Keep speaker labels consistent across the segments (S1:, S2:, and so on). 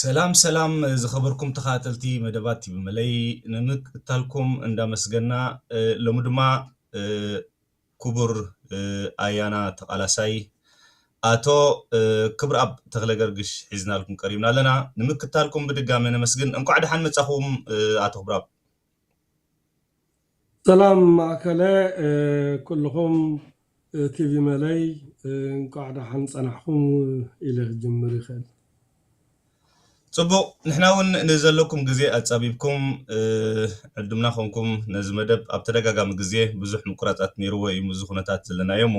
S1: ሰላም ሰላም ዝኸበርኩም ተኸታተልቲ መደባት ቲቪ መለይ ንምክትታልኩም እንዳመስገና ሎሚ ድማ ክቡር ኣያና ተቓላሳይ ኣቶ ክብርኣብ ተክለ ገርግሽ ሒዝናልኩም ቀሪብና ኣለና ንምክታልኩም ብድጋሚ ነመስግን እንኳዕ ደሓን መጻኹም ኣቶ ክብርኣብ
S2: ሰላም ማእከለ ኩሉኹም ቲቪ መለይ እንቋዕ ደሓን ጸናሕኩም ኢለ ክጅምር ይኽእል።
S1: ጽቡቕ ንሕና ውን ንዘለኩም ግዜ ኣጻቢብኩም ዕዱምና ኮንኩም ነዚ መደብ ኣብ ተደጋጋሚ ግዜ ብዙሕ ምቁራጻት ኔርዎ ኢዩ ምስዚ ኩነታት ዘለናዮ እሞ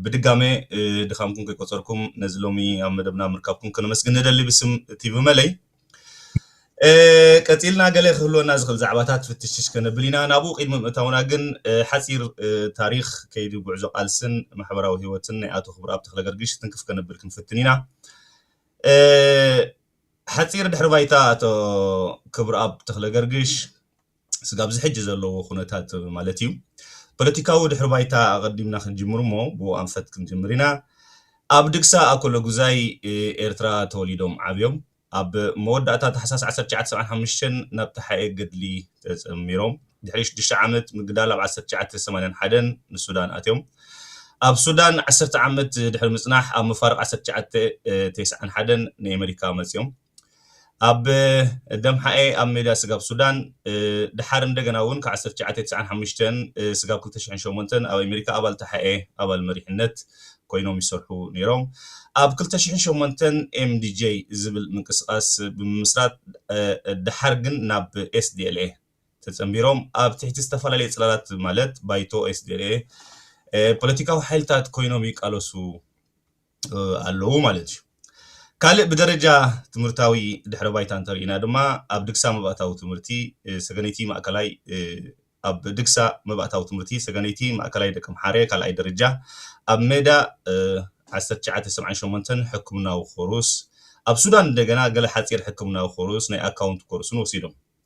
S1: ብድጋመ ድኻምኩም ከይቆጸርኩም ነዚ ሎሚ ኣብ መደብና ምርካብኩም ከነመስግን ንደሊ ብስም ቲቪ መለይ ቀጺልና ገለ ክህልወና ዝኽእል ዛዕባታት ፍትሽሽ ከነብል ኢና ናብኡ ቅድሚ ምእታውና ግን ሓፂር ታሪክ ከይዲ ጉዕዞ ቃልስን ማሕበራዊ ህይወትን ናይ ኣቶ ክብረኣብ ተክለገርግሽ ትንክፍ ከነብል ክንፍትን ኢና ሓፂር ድሕሪ ባይታ ኣቶ ክብረኣብ ተክለገርግሽ ስጋብ ኣብዚ ሕጂ ዘለዎ ኩነታት ማለት እዩ ፖለቲካዊ ድሕሪ ባይታ ኣቐዲምና ክንጅምር እሞ ብኡ ኣንፈት ክንጅምር ኢና። ኣብ ድግሳ ኣኮሎጉዛይ ኤርትራ ተወሊዶም ዓብዮም። ኣብ መወዳእታ ታሕሳስ ዓሰርተ ትሽዓተ ሰብዓን ሓሙሽተን ናብ ተሓኤ ገድሊ ተጸሚሮም። ድሕሪ ሽዱሽተ ዓመት ምግዳል ኣብ ዓሰርተ ትሽዓተ ሰማንያን ሓደን ንሱዳን ኣትዮም። ኣብ ሱዳን ዓሰርተ ዓመት ድሕሪ ምጽናሕ ኣብ መፋርቕ ዓሰርተ ትሽዓተ ቴስዓን ሓደን ንኤመሪካ መጽዮም። ኣብ ደምሓኤ ኣብ ሜዳ ስጋብ ሱዳን ደሓር እንደገና እውን ካብ ዓሰርተ ትሽዓተ ትስዓን ሓሙሽተን ስጋብ ክልተ ሽሕን ሸሞንተን ኣብ ኣሜሪካ ኣባል ተሓኤ ኣባል መሪሕነት ኮይኖም ይሰርሑ ነይሮም። ኣብ ክልተ ሽሕን ሸሞንተን MDJ ዝብል ምንቅስቓስ ብምምስራት ደሓር ግን ናብ SDLA ተጸንቢሮም ኣብ ትሕቲ ዝተፈላለየ ጽላላት ማለት ባይቶ SDLA ፖለቲካዊ ሓይልታት ኮይኖም ይቃለሱ ኣለዉ ማለት እዩ። ካልእ ብደረጃ ትምህርታዊ ድሕረ ባይታ እንተሪኢና ድማ ኣብ ድግሳ መባእታዊ ትምህርቲ ሰገነይቲ ማእከላይ ኣብ ድግሳ መባእታዊ ትምህርቲ ሰገነይቲ ማእከላይ ደቂ ምሓረ ካልኣይ ደረጃ ኣብ ሜዳ 1978 ሕክምናዊ ኮርስ ኣብ ሱዳን እንደገና ገለ ሓጺር ሕክምናዊ ኮርስ ናይ ኣካውንት ኮርስን ወሲዶም።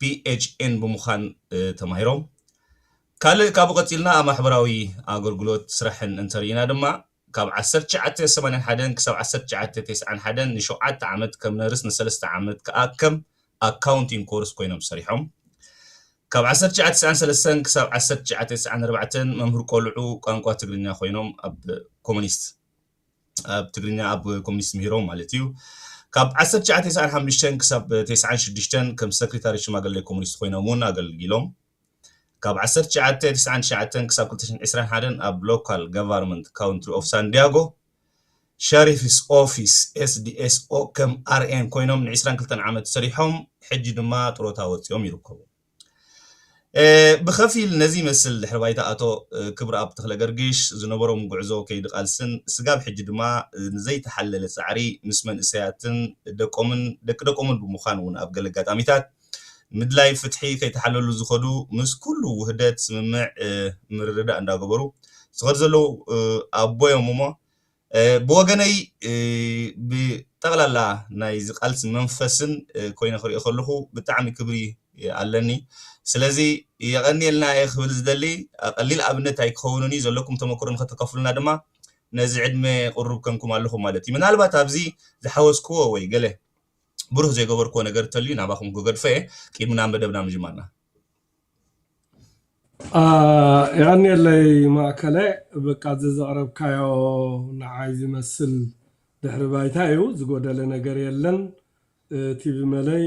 S1: PHN ብምዃን ተማሂሮም። ካልእ ካብኡ ቀጺልና ኣብ ማሕበራዊ ኣገልግሎት ስራሕን እንተርኢና ድማ ካብ ዓሰርተ ትሽዓተ ሰማንያን ሓደን ክሳብ ዓሰርተ ትሽዓተ ተስዓን ሓደን ንሸውዓተ ዓመት ከም ነርስ ንሰለስተ ዓመት ከኣ ከም ኣካውንቲንግ ኮርስ ኮይኖም ሰሪሖም። ካብ ዓሰርተ ትሽዓተ ተስዓን ሰለስተን ክሳብ ዓሰርተ ትሽዓተ ተስዓን ኣርባዕተን መምህር ቆልዑ ቋንቋ ትግርኛ ኮይኖም ኣብ ኮሙኒስት ኣብ ትግርኛ ኣብ ኮሚኒስት ምሂሮም ማለት እዩ። ካብ ዓሰርተ ትሽዓተ ተስዓን ሓሙሽተን ክሳብ ተስዓን ሽዱሽተን ከም ሰክሪታሪ ሽማግሌ ኮሚኒስት ኮይኖም እውን ኣገልጊሎም። ካብ ዓሰርተ ትሽዓተ ተስዓን ትሽዓተን ክሳብ ክልተ ሽሕን ዕስራን ሓደን ኣብ ሎካል ገቨርንመንት ካውንትሪ ኦፍ ሳንዲያጎ ሸሪፍስ ኦፊስ SDSO ከም ኣርኤን ኮይኖም ንዕስራን ክልተን ዓመት ሰሪሖም ሕጂ ድማ ጥሮታ ወጺኦም ይርከቡ። ብኸፊል ነዚ ይመስል ድሕሪ ባይታ ኣቶ ክብርኣብ ተኽለገርግሽ ዝነበሮም ጉዕዞ ከይዲ ቃልስን ስጋብ ሕጂ ድማ ንዘይተሓለለ ፃዕሪ ምስ መንእሰያትን ደቆምን ደቂ ደቆምን ብምዃን እውን ኣብ ገለ ኣጋጣሚታት ምድላይ ፍትሒ ከይተሓለሉ ዝኸዱ ምስ ኩሉ ውህደት ስምምዕ ምርድዳእ እንዳገበሩ ዝኸዱ ዘለዉ ኣቦ እዮም እሞ ብወገነይ ብጠቕላላ ናይዚ ቃልሲ መንፈስን ኮይነ ክሪኦ ከለኹ ብጣዕሚ ክብሪ ኣለኒ ስለዚ የቐንየልና እየ ክብል ዝደሊ ቀሊል ኣብነት ኣይክኸውንን እዩ ዘለኩም ተመክሮ ንኸተከፍሉና ድማ ነዚ ዕድመ ቅሩብ ከንኩም ኣለኹም ማለት እዩ ምናልባት ኣብዚ ዝሓወስክዎ ወይ ገለ ብሩህ ዘይገበርክዎ ነገር እንተልዩ ናባኹም ክገድፎ እየ ቂድሚ ናብ መደብና ምጅማርና
S2: የቐንየለይ ማእከለ በቃ እዚ ዘቕረብካዮ ንዓይ ዝመስል ድሕሪ ባይታ እዩ ዝጎደለ ነገር የለን ቲቪ መለይ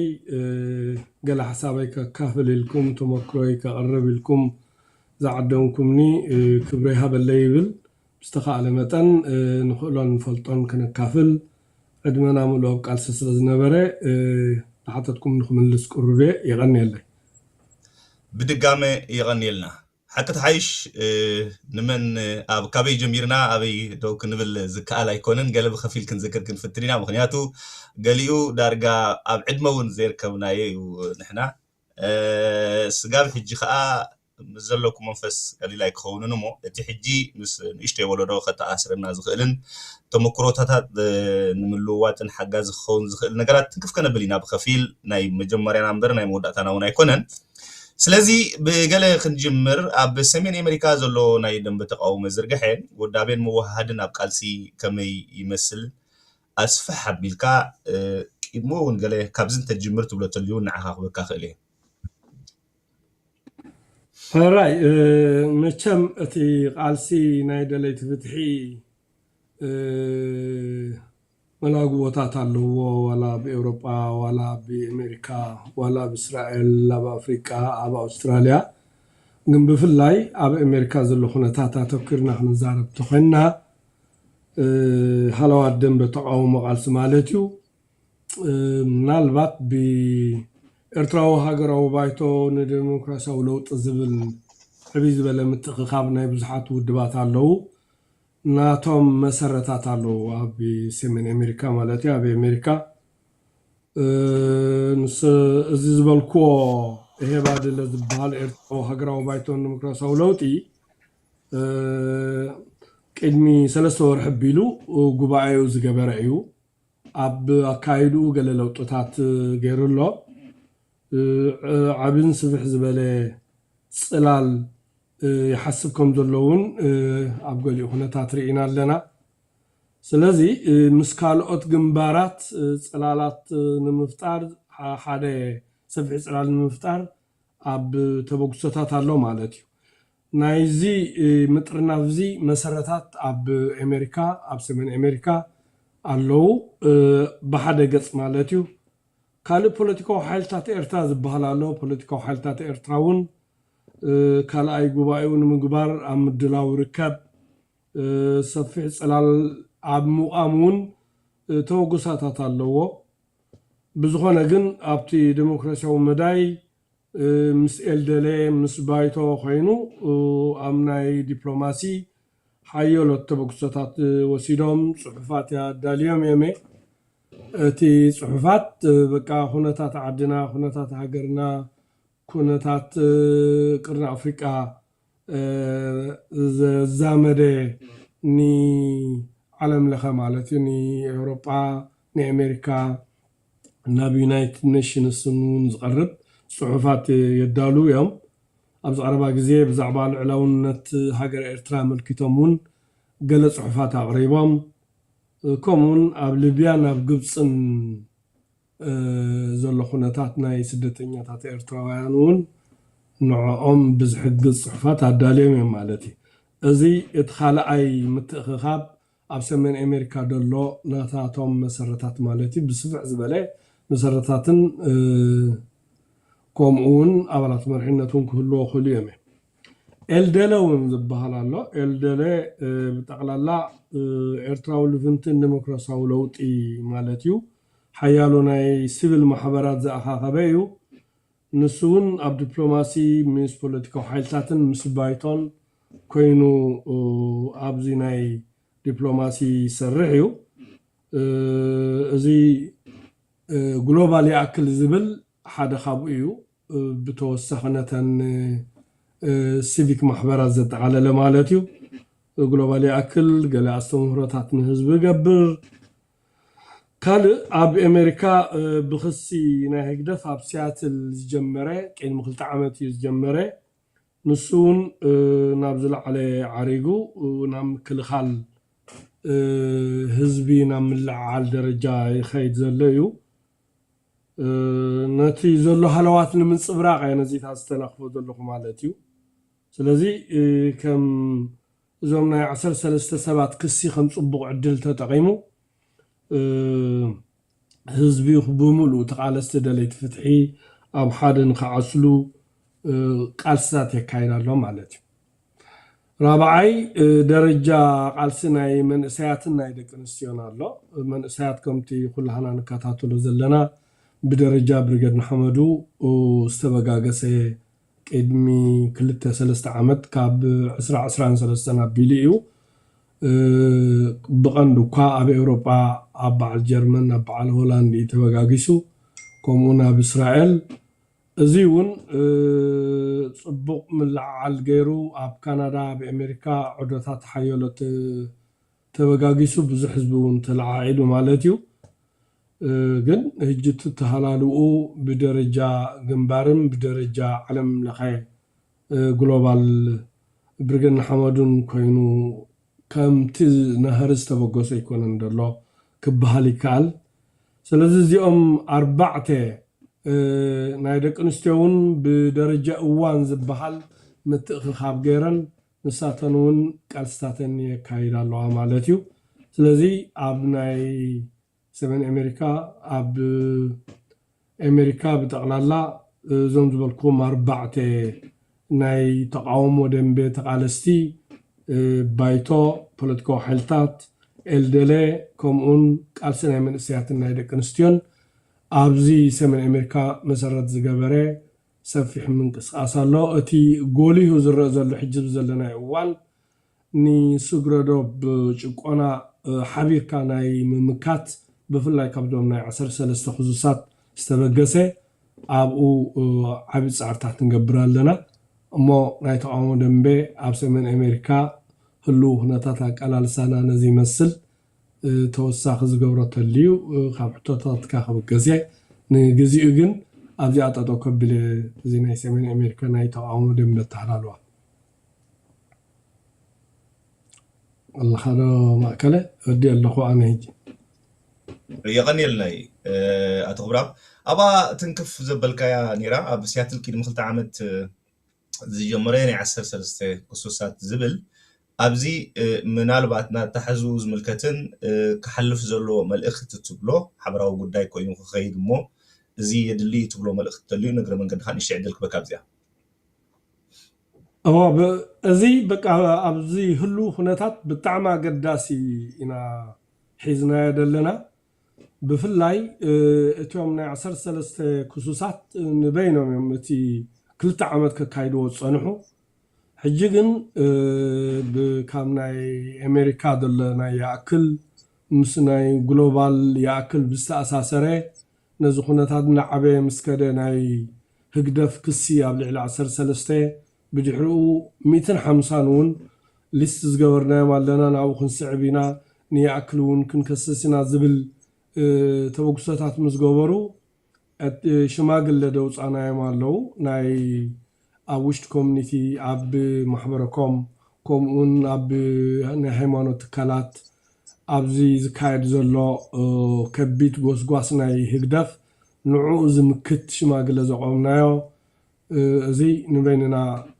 S2: ገለ ሓሳበይ ከካፍል ኢልኩም ተመክሮይ ከቕርብ ኢልኩም ዝዓደምኩምኒ ክብሪ ይሃበለይ ይብል ብዝተኻእለ መጠን ንኽእሎን ንፈልጦን ከነካፍል ዕድመና ምሉእ ኣብ ቃልሲ ስለ ዝነበረ ንሓተትኩም
S1: ንክምልስ
S2: ቅሩብ እየ። የቐንየለይ። ብድጋመ የቐንየልና።
S1: ሓቂ ትሓይሽ ንመን ኣብ ካበይ ጀሚርና ኣበይ ደው ክንብል ዝከኣል ኣይኮነን። ገለ ብኸፊል ክንዝክር ክንፍትን ኢና ምኽንያቱ ገሊኡ ዳርጋ ኣብ ዕድመ እውን ዘይርከብናዮ እዩ ንሕና። ስጋብ ሕጂ ከኣ ምስ ዘለኩ መንፈስ ቀሊል ኣይክኸውንን እሞ እቲ ሕጂ ምስ ንእሽተይ ወለዶ ከተኣሳስረና ዝኽእልን ተመኩሮታታት ንምልውዋጥን ሓጋዚ ክኸውን ዝኽእል ነገራት ትንክፍ ከነብል ኢና ብኸፊል ናይ መጀመርያና እምበር ናይ መወዳእታና እውን ኣይኮነን ስለዚ ብገለ ክንጅምር ኣብ ሰሜን ኤመሪካ ዘሎ ናይ ደንበ ተቃውሞ ዝርግሐ ውዳቤን ምውህሃድን ኣብ ቃልሲ ከመይ ይመስል ኣስፍሕ ኣቢልካ ቂድሞ እውን ገለ ካብዚ እንተትጅምር ትብሎ ተልዩ ንዓኻ ክበካ ክእል እየ።
S2: ሕራይ መቸም እቲ ቃልሲ ናይ ደለይቲ ፍትሒ መላግቦታት ኣለዎ ዋላ ኣብ ኤውሮጳ ዋላ ኣብ ኣሜሪካ ዋላ ኣብ እስራኤል ኣብ ኣፍሪቃ ኣብ ኣውስትራልያ ግን ብፍላይ ኣብ ኣሜሪካ ዘሎ ኩነታት ኣተኲርና ክንዛረብ ተኾይንና ሃለዋት ደንበ ተቓውሞ ቃልሲ ማለት እዩ ምናልባት ብኤርትራዊ ሃገራዊ ባይቶ ንደሞክራስያዊ ለውጢ ዝብል ዕብይ ዝበለ ምትእኽኻብ ናይ ብዙሓት ውድባት ኣለዉ። ናቶም መሰረታት ኣለዉ ኣብ ሰሜን ኣሜሪካ ማለት'ዩ ኣብ ኣሜሪካ። ንስ እዚ ዝበልክዎ ኤሄባድለ ዝብሃል ኤርትራዊ ሃገራዊ ባይቶ ንደሞክራስያዊ ለውጢ ቅድሚ ሰለስተ ወርሒ ኣቢሉ ጉባኤኡ ዝገበረ እዩ። ኣብ ኣካያይድኡ ገለ ለውጥታት ገይሩ ኣሎ። ዓብን ስፍሕ ዝበለ ጽላል ይሓስብ ከም ዘሎ እውን ኣብ ገሊኡ ኩነታት ርኢና ኣለና። ስለዚ ምስ ካልኦት ግንባራት ጽላላት ንምፍጣር ሓደ ሰፍሒ ጽላል ንምፍጣር ኣብ ተበግሶታት ኣሎ ማለት እዩ። ናይዚ ምጥርናፍዚ መሰረታት ኣብ ኤመሪካ፣ ኣብ ሰሜን ኤመሪካ ኣለው። ብሓደ ገጽ ማለት እዩ። ካልእ ፖለቲካዊ ሓይልታት ኤርትራ ዝበሃል ኣሎ። ፖለቲካዊ ሓይልታት ኤርትራ እውን ካልኣይ ጉባኤኡ ንምግባር ኣብ ምድላው ይርከብ። ሰፊሕ ጽላል ኣብ ምቛም እውን ተበግሶታት ኣለዎ። ብዝኾነ ግን ኣብቲ ደሞክራሲያዊ መዳይ ምስ ኤልደለ ምስ ባይቶ ኮይኑ ኣብ ናይ ዲፕሎማሲ ሓዮሎት ተበግሶታት ወሲዶም ጽሑፋት ኣዳልዮም እዮም'የ እቲ ጽሑፋት በቃ ኩነታት ዓድና ኩነታት ሃገርና ኩነታት ቅርኒ ኣፍሪቃ ዘዛመደ ንዓለም ለኸ ማለት እዩ ንኤውሮጳ ንኤሜሪካ ናብ ዩናይትድ ነሽንስ እውን ዝቐርብ ጽሑፋት የዳልዉ እዮም። ኣብዚ ቀረባ ግዜ ብዛዕባ ልዑላውነት ሃገረ ኤርትራ ኣመልኪቶም እውን ገለ ጽሑፋት ኣቕሪቦም። ከምኡውን ኣብ ልብያን ኣብ ግብጽን። ዘሎ ኩነታት ናይ ስደተኛታት ኤርትራውያን እውን ንዖኦም ብዝሕግዝ ጽሑፋት ኣዳልዮም እዮም ማለት እዩ። እዚ እቲ ካልኣይ ምትእኽኻብ ኣብ ሰሜን ኤሜሪካ ደሎ ናታቶም መሰረታት ማለት እዩ ብስፍሕ ዝበለ መሰረታትን ኮምኡ እውን ኣባላት መርሒነት እውን ክህልዎ ክእሉ እዮም እዮም። ኤልደለ እውን ዝበሃል ኣሎ። ኤልደለ ብጠቕላላ ኤርትራዊ ልፍንትን ደሞክራሲያዊ ለውጢ ማለት እዩ። ሓያሎ ናይ ሲቪል ማሕበራት ዝኣኻኸበ እዩ። ንሱ እውን ኣብ ዲፕሎማሲ ምስ ፖለቲካዊ ሓይልታትን ምስ ባይቶን ኮይኑ ኣብዚ ናይ ዲፕሎማሲ ይሰርሕ እዩ። እዚ ግሎባል ይኣክል ዝብል ሓደ ካብኡ እዩ። ብተወሳኺ ነተን ሲቪክ ማሕበራት ዘጠቓለለ ማለት እዩ። ግሎባል ይኣክል ገለ ኣስተምህሮታት ንህዝቢ ይገብር። ካልእ ኣብ ኤመሪካ ብክሲ ናይ ህግደፍ ኣብ ሲያትል ዝጀመረ ቅድሚ ክልተ ዓመት እዩ ዝጀመረ ንሱ እውን ናብ ዝለዓለ ዓሪጉ ናብ ምክልኻል ህዝቢ ናብ ምልዕዓል ደረጃ ይኸይድ ዘሎ እዩ። ነቲ ዘሎ ሃለዋት ንምንጽብራቕ እያ ነዚታት ዝተላኽቦ ዘለኹ ማለት እዩ። ስለዚ ከም እዞም ናይ ዓሰርተ ሰለስተ ሰባት ክሲ ከም ጽቡቕ ዕድል ተጠቒሙ ህዝቢ ብምሉኡ ተቓለስቲ ደለይቲ ፍትሒ ኣብ ሓደ ንኽዓስሉ ቃልስታት የካይድ ኣሎ ማለት እዩ። ራብዓይ ደረጃ ቃልሲ ናይ መንእሰያትን ናይ ደቂ ኣንስትዮን ኣሎ። መንእሰያት ከምቲ ኩላህና ንከታተሎ ዘለና ብደረጃ ብሪገድ ንሐመዱ ዝተበጋገሰ ቅድሚ ክልተ ሰለስተ ዓመት ካብ ዕስራ ዕስራን ሰለስተን ኣቢሉ እዩ ብቀንዱ እኳ ኣብ ኤውሮጳ ኣብ በዓል ጀርመን ኣብ በዓል ሆላንድ እዩ ተበጋጊሱ ከምኡውን ኣብ እስራኤል እዚ እውን ፅቡቕ ምልዕዓል ገይሩ ኣብ ካናዳ ኣብ ኤሜሪካ ዑደታት ሓየሎ ተበጋጊሱ ብዙሕ ህዝቢ እውን ተለዓዒሉ ማለት እዩ ግን ህጂ እቲ ተሃላልውኡ ብደረጃ ግንባርን ብደረጃ ዓለም ለኸ ግሎባል ብርግን ንሓመዱን ኮይኑ ከምቲ ናህሪ ዝተበገሶ ኣይኮነን ዘሎ ክበሃል ይከኣል። ስለዚ እዚኦም ኣርባዕተ ናይ ደቂ ኣንስትዮ እውን ብደረጃ እዋን ዝበሃል ምትእኽኻብ ገይረን ንሳተን እውን ቃልስታተን የካይዳ ኣለዋ ማለት እዩ። ስለዚ ኣብ ናይ ሰሜን ኣሜሪካ ኣብ ኣሜሪካ ብጠቕላላ እዞም ዝበልክዎም ኣርባዕተ ናይ ተቓውሞ ደንበ ተቓለስቲ ባይቶ ፖለቲካዊ ሓይልታት፣ ኤልደለ፣ ከምኡውን ቃልሲ ናይ መንእሰያትን ናይ ደቂ ኣንስትዮን ኣብዚ ሰሜን ኣሜሪካ መሰረት ዝገበረ ሰፊሕ ምንቅስቓስ ኣሎ። እቲ ጎሊሁ ዝረእ ዘሎ ሕጂ ኣብዚ ዘለናዮ እዋን ንስግረዶብ ጭቆና ሓቢርካ ናይ ምምካት ብፍላይ ካብዞም ናይ ዓሰርተ ሰለስተ ክዙሳት ዝተበገሰ ኣብኡ ዓቢ ጻዕርታት ንገብር ኣለና እሞ ናይ ተቓውሞ ደምበ ኣብ ሰሜን ኤሜሪካ ህሉዉ ኩነታት ኣቃላልሳና ነዚ ይመስል ተወሳኺ ዝገብሮ ተልዩ ካብ ሕቶታትካ ክብገስየ ንግዚኡ ግን ኣብዚኣ ጠጠው ከብልየ እዚ ናይ ሰሜን ኤሜሪካ ናይ ተቓውሞ ደምበ ኣተሃላልዋ። ኣለኻዶ ማእከለ ወዲ ኣለኹ ኣነ ሕጂ
S1: የቐንየልና ኣቶ ክብራብ ኣብኣ ትንክፍ ዘበልካያ ነይራ ኣብ ሲያትል ቅድሚ ክልተ ዓመት ዝጀመረ ናይ ዓሰርተ ሰለስተ ክሱሳት ዝብል ኣብዚ ምናልባት ናታሕዙ ዝምልከትን ክሓልፍ ዘለዎ መልእኽቲ ትብሎ ሓበራዊ ጉዳይ ኮይኑ ክኸይድ እሞ እዚ የድሊ ትብሎ መልእኽቲ ተልዩ ንግረ መንገድኻ ንእሽተይ ዕድል ክበካ ኣብዚኣ እዎ
S2: ብ እዚ በቃ ኣብዚ ህሉው ኩነታት ብጣዕሚ ኣገዳሲ ኢና ሒዝናዮ ደለና ብፍላይ እቲም ናይ ዓሰርተ ሰለስተ ክሱሳት ንበይኖም እዮም እቲ ክልተ ዓመት ከካይድዎ ዝጸንሑ ሕጂ ግን ብ ካብ ናይ ኤሜሪካ ደሎ ናይ ይኣክል ምስ ናይ ግሎባል ይኣክል ብዝተኣሳሰረ ነዚ ኩነታት እናዓበየ ምስ ከደ ናይ ህግደፍ ክሲ ኣብ ልዕሊ ዓሰርተ ሰለስተ ብድሕሪኡ ሚእትን ሓምሳን እውን ሊስት ዝገበርናዮም ኣለና ናብኡ ክንስዕብ ኢና ንይኣክል እውን ክንከስስ ኢና ዝብል ተበግሶታት ምስ ገበሩ ሽማግለ ደውፃናዮም ኣለዉ ናይ ኣብ ውሽጢ ኮሚኒቲ፣ ኣብ ማሕበረ-ኮም፣ ከምኡውን ኣብ ናይ ሃይማኖት ትካላት ኣብዚ ዝካየድ ዘሎ ከቢድ ጎስጓስ ናይ ህግደፍ ንዕኡ ዝምክት ሽማግለ ዘቖምናዮ እዚ ንበይንና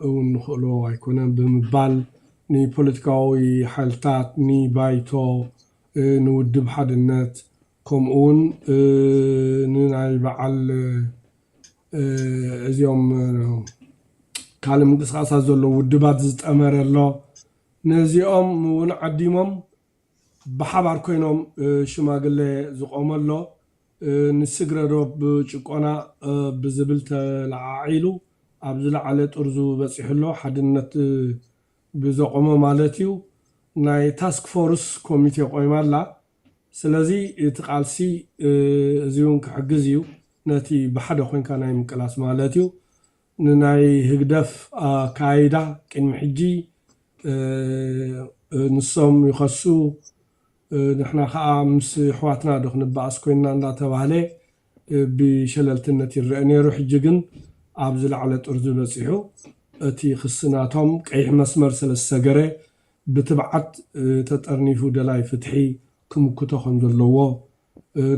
S2: እውን ንኽእሎ ኣይኮነን ብምባል ንፖለቲካዊ ሓይልታት፣ ንባይቶ፣ ንውድብ ሓድነት ከምኡውን ንናይ በዓል እዚኦም ካልእ ምንቅስቓሳት ዘለዉ ውድባት ዝጠመረ ኣሎ። ነዚኦም እውን ዓዲሞም ብሓባር ኮይኖም ሽማግለ ዝቖመ ኣሎ። ንስግረ ዶብ ጭቆና ብዝብል ተለዓዒሉ ኣብ ዝለዓለ ጥርዙ በፂሑ ኣሎ፣ ሓድነት ብዘቖመ ማለት እዩ። ናይ ታስክ ፎርስ ኮሚቴ ቆይማ ኣላ። ስለዚ እቲ ቃልሲ እዚውን ክሕግዝ እዩ ነቲ ብሓደ ኮንካ ናይ ምቅላስ ማለት እዩ። ንናይ ህግደፍ ኣከያይዳ ቅድሚ ሕጂ ንሶም ይኸሱ ንሕና ከኣ ምስ የሕዋትና ዶ ክንበኣስ ኮይንና እንዳተባህለ ብሸለልትነት ይረኣ ነይሩ ሕጂ ግን ኣብ ዝለዓለ ጥርዙ በጺሑ እቲ ክሲ ናቶም ቀይሕ መስመር ስለ ዝሰገረ ብትብዓት ተጠርኒፉ ደላይ ፍትሒ ክምክቶ ከም ዘለዎ፣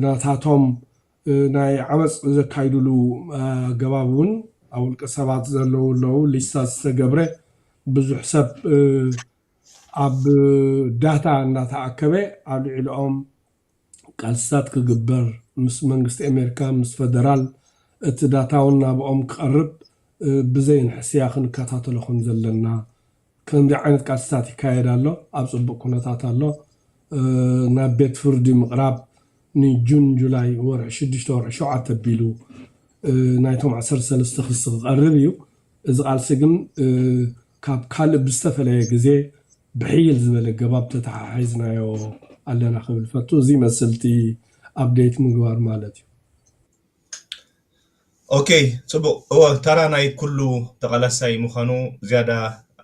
S2: ናታቶም ናይ ዓመጽ ዘካይዱሉ ኣገባብ እውን ኣብ ውልቀ ሰባት ዘለዉ ኣለዉ ሊስታ ዝተገብረ ብዙሕ ሰብ ኣብ ዳታ እናተኣከበ ኣብ ልዕሊኦም ቃልስታት ክግበር ምስ መንግስቲ ኣሜሪካ ምስ ፈደራል እቲ ዳታውን ናብኦም ክቐርብ ብዘይ ንሕስያ ክንከታተሎ ከም ዘለና ከምዚ ዓይነት ቃልስታት ይካየድ ኣሎ ኣብ ጽቡቕ ኩነታት ኣሎ ናብ ቤት ፍርዲ ምቕራብ ን ጁን ጁላይ ወርሒ ሽዱሽተ ወርሒ ሸውዓተ ኣቢሉ ናይቶም ዓሰርተ ሰለስተ ክሲ ክቐርብ እዩ እዚ ቃልሲ ግን ካብ ካልእ ብዝተፈለየ ግዜ ብሕይል ዝበለ ኣገባብ ተተሓሒዝናዮ ኣለና ክብል ፈቱ። እዚ ይመስል እቲ ኣፕደይት ምግባር ማለት እዩ።
S1: ኦኬ ጽቡቅ እወ ተራ ናይ ኩሉ ተቃላሳይ ምካኑ ዝያዳ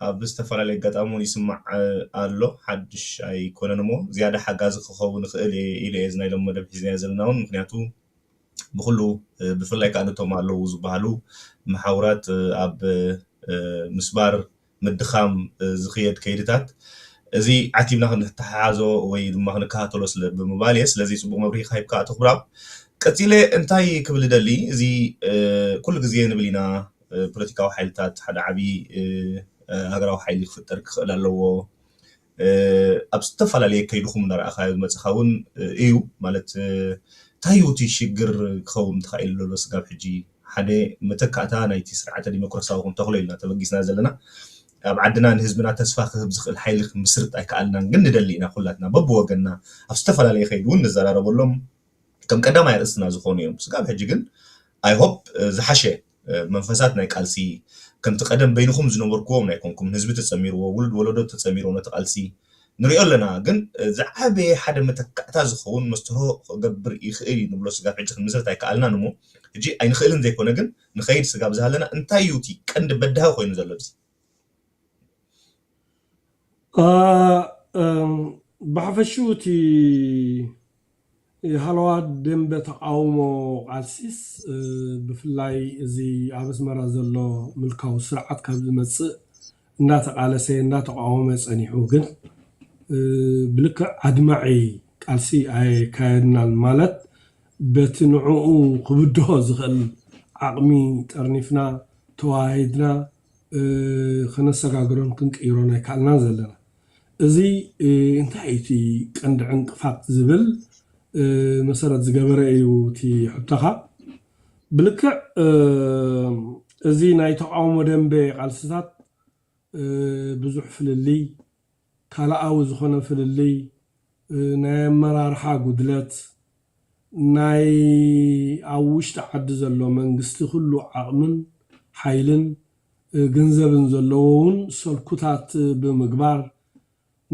S1: ኣብ ዝተፋላለየ ኣጋጣሚ ውን ይስማዕ ኣሎ ሓድሽ ኣይኮነን እሞ ዝያዳ ሓጋዚ ክከውን ይክእል እየ ኢለ እየ እዚ ናይ ሎሚ መደብ ሒዝናዮ ዘለና ውን ምክንያቱ ብኩሉ ብፍላይ ከኣ ነቶም ኣለዉ ዝባሃሉ መሓውራት ኣብ ምስባር ምድኻም ዝኽየድ ከይድታት እዚ ዓቲብና ክንተሓሓዞ ወይ ድማ ክንከታተሎ ስለ ብምባል እየ ስለዚ ጽቡቕ መብርሂ ሂብካ ኣቶ ክብራብ ቀጺለ እንታይ ክብል እደሊ እዚ ኩሉ ግዜ ንብል ኢና ፖለቲካዊ ሓይልታት ሓደ ዓቢ ሃገራዊ ሓይሊ ክፍጠር ክኽእል ኣለዎ ኣብ ዝተፈላለየ ከይድኩም እናረኣኻዮ ዝመጸኻ እውን እዩ ማለት እንታይ እዩ እቲ ሽግር ክኸውን ተኻኢሉ ዘሎ ስጋብ ሕጂ ሓደ መተካእታ ናይቲ ስርዓተ ዲሞክራሲያዊ ክንተኽሎ ኢልና ተበጊስና ዘለና ኣብ ዓድና ንህዝብና ተስፋ ክህብ ዝኽእል ሓይሊ ክንምስርት ኣይከኣልናን ግን ንደሊ ኢና ኩላትና በብወገንና ኣብ ዝተፈላለየ ከይዲ እውን ንዘራረበሎም ከም ቀዳማይ ኣርእስትና ዝኾኑ እዮም ስጋብ ሕጂ ግን ኣይሆፕ ዝሓሸ መንፈሳት ናይ ቃልሲ ከምቲ ቀደም በይንኹም ዝነበርኩዎም ኣይኮንኩምን ህዝቢ ተጸሚርዎ ውሉድ ወለዶ ተጸሚርዎ ነቲ ቃልሲ ንሪኦ ኣለና ግን ዝዓበየ ሓደ መተካእታ ዝኸውን መስትርሆ ክገብር ይኽእል እዩ ንብሎ ስጋብ ሕጂ ክንምስርት ኣይከኣልናን እሞ ሕጂ ኣይንኽእልን ዘይኮነ ግን ንኸይድ ስጋብ ዝሃለና እንታይ እዩ እቲ ቀንዲ በዳሂ ኮይኑ ዘሎ እብዚ
S2: ብሓፈሽኡ እቲ ሃለዋት ደምበ ተቓውሞ ቃልሲስ ብፍላይ እዚ ኣብ ኣስመራ ዘሎ ምልካዊ ስርዓት ካብ ዝመጽእ እንዳተቓለሰ እንዳተቓወመ ጸኒሑ ግን ብልክዕ ኣድማዒ ቃልሲ ኣየካየድናን ማለት በቲ ንዕኡ ክብድሆ ዝኽእል ዓቕሚ ጠርኒፍና ተወሃሂድና ከነሰጋግሮን ክንቅይሮን ኣይከኣልናን ዘለና። እዚ እንታይ እዩ እቲ ቀንዲ ዕንቅፋት ዝብል መሰረት ዝገበረ እዩ እቲ ሕቶኻ። ብልክዕ እዚ ናይ ተቓውሞ ደንበ ቃልስታት ብዙሕ ፍልልይ፣ ካልኣዊ ዝኾነ ፍልልይ ናይ ኣመራርሓ ጉድለት፣ ናይ ኣብ ውሽጢ ዓዲ ዘሎ መንግስቲ ኩሉ ዓቕምን ሓይልን ግንዘብን ዘለዎ ውን ሰልኩታት ብምግባር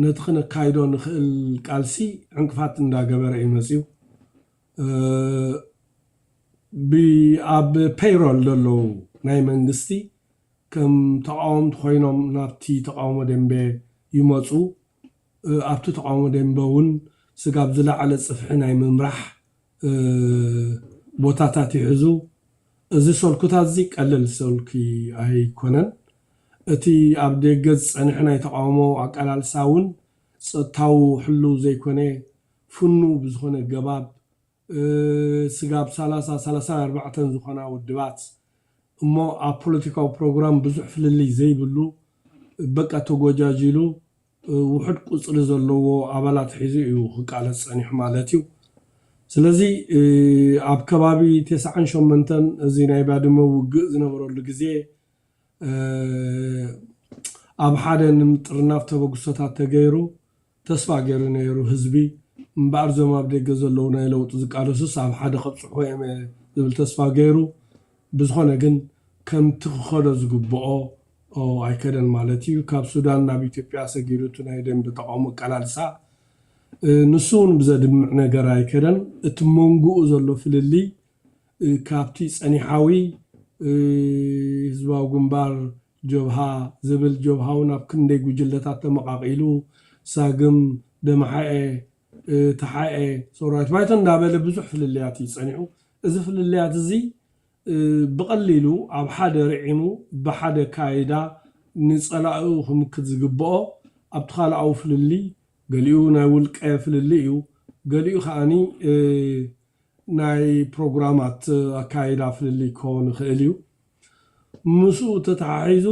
S2: ነቲ ክነካይዶ ንኽእል ቃልሲ ዕንቅፋት እንዳገበረ ዩ መጺኡ። ብ ኣብ ፔይሮል ዘለዉ ናይ መንግስቲ ከም ተቓወምቲ ኮይኖም ናብቲ ተቓውሞ ደምበ ይመጹ። ኣብቲ ተቓውሞ ደምበውን ስጋብ ዝለዓለ ጽፍሒ ናይ ምምራሕ ቦታታት ይሕዙ። እዚ ሰልኩታትዚ ቀለል ሰልኩ ኣይኮነን። እቲ ኣብ ደገ ዝጸንሐ ናይ ተቓውሞ ኣቃላልሳውን ጸጥታዊ ሕሉው ዘይኮነ ፍኑው ብዝኾነ ገባብ፣ ስጋብ ሰላሳ፣ ሰላሳን ኣርባዕተን ዝኾና ውድባት እሞ ኣብ ፖለቲካዊ ፕሮግራም ብዙሕ ፍልልይ ዘይብሉ በቃ ተጎጃጂሉ ውሑድ ቁጽሪ ዘለዎ ኣባላት ሒዙ እዩ ክቃለስ ጸኒሑ ማለት እዩ። ስለዚ ኣብ ከባቢ ተስዓን ሸሞንተን እዚ ናይ ባድመ ውግእ ዝነበረሉ ግዜ ኣብ ሓደ ንምጥርናፍ ተበግሶታት ተገይሩ። ተስፋ ገይረ ነይሩ ህዝቢ እምበኣር እዞም ኣብ ደገ ዘለዉ ናይ ለውጢ ዝቃለሱስ ኣብ ሓደ ከብጽሕዎ እዮም እየ ዝብል ተስፋ ገይሩ ብዝኾነ ግን ከምቲ ክኸዶ ዝግብኦ ኣይከደን ማለት እዩ ካብ ሱዳን ናብ ኢትዮጵያ ሰጊሩ እቲ ናይ ደምበ ተቃውሞ ኣቃላልሳ ንሱ ውን ብዘድምዕ ነገር ኣይከደን እቲ መንጉኡ ዘሎ ፍልልይ ካብቲ ጸኒሓዊ ህዝባዊ ግንባር ጆብሃ ዝብል ጆብሃውን ኣብ ክንደይ ጉጅለታት ተመቓቒሉ፣ ሳግም፣ ደምሓኤ፣ ተሓኤ፣ ሰውራዊት ባይቶ እንዳበለ ብዙሕ ፍልልያት እዩ ጸኒሑ። እዚ ፍልልያት እዚ ብቐሊሉ ኣብ ሓደ ርዒሙ ብሓደ ኣከያይዳ ንጸላኢኡ ክምክት ዝግበኦ ኣብ ትካላኣዊ ፍልልይ ገሊኡ ናይ ውልቀ ፍልልይ እዩ፣ ገሊኡ ከኣ ናይ ፕሮግራማት ኣከያይዳ ፍልልይ ክኸውን ይኽእል እዩ። ምስኡ ተተሓሒዙ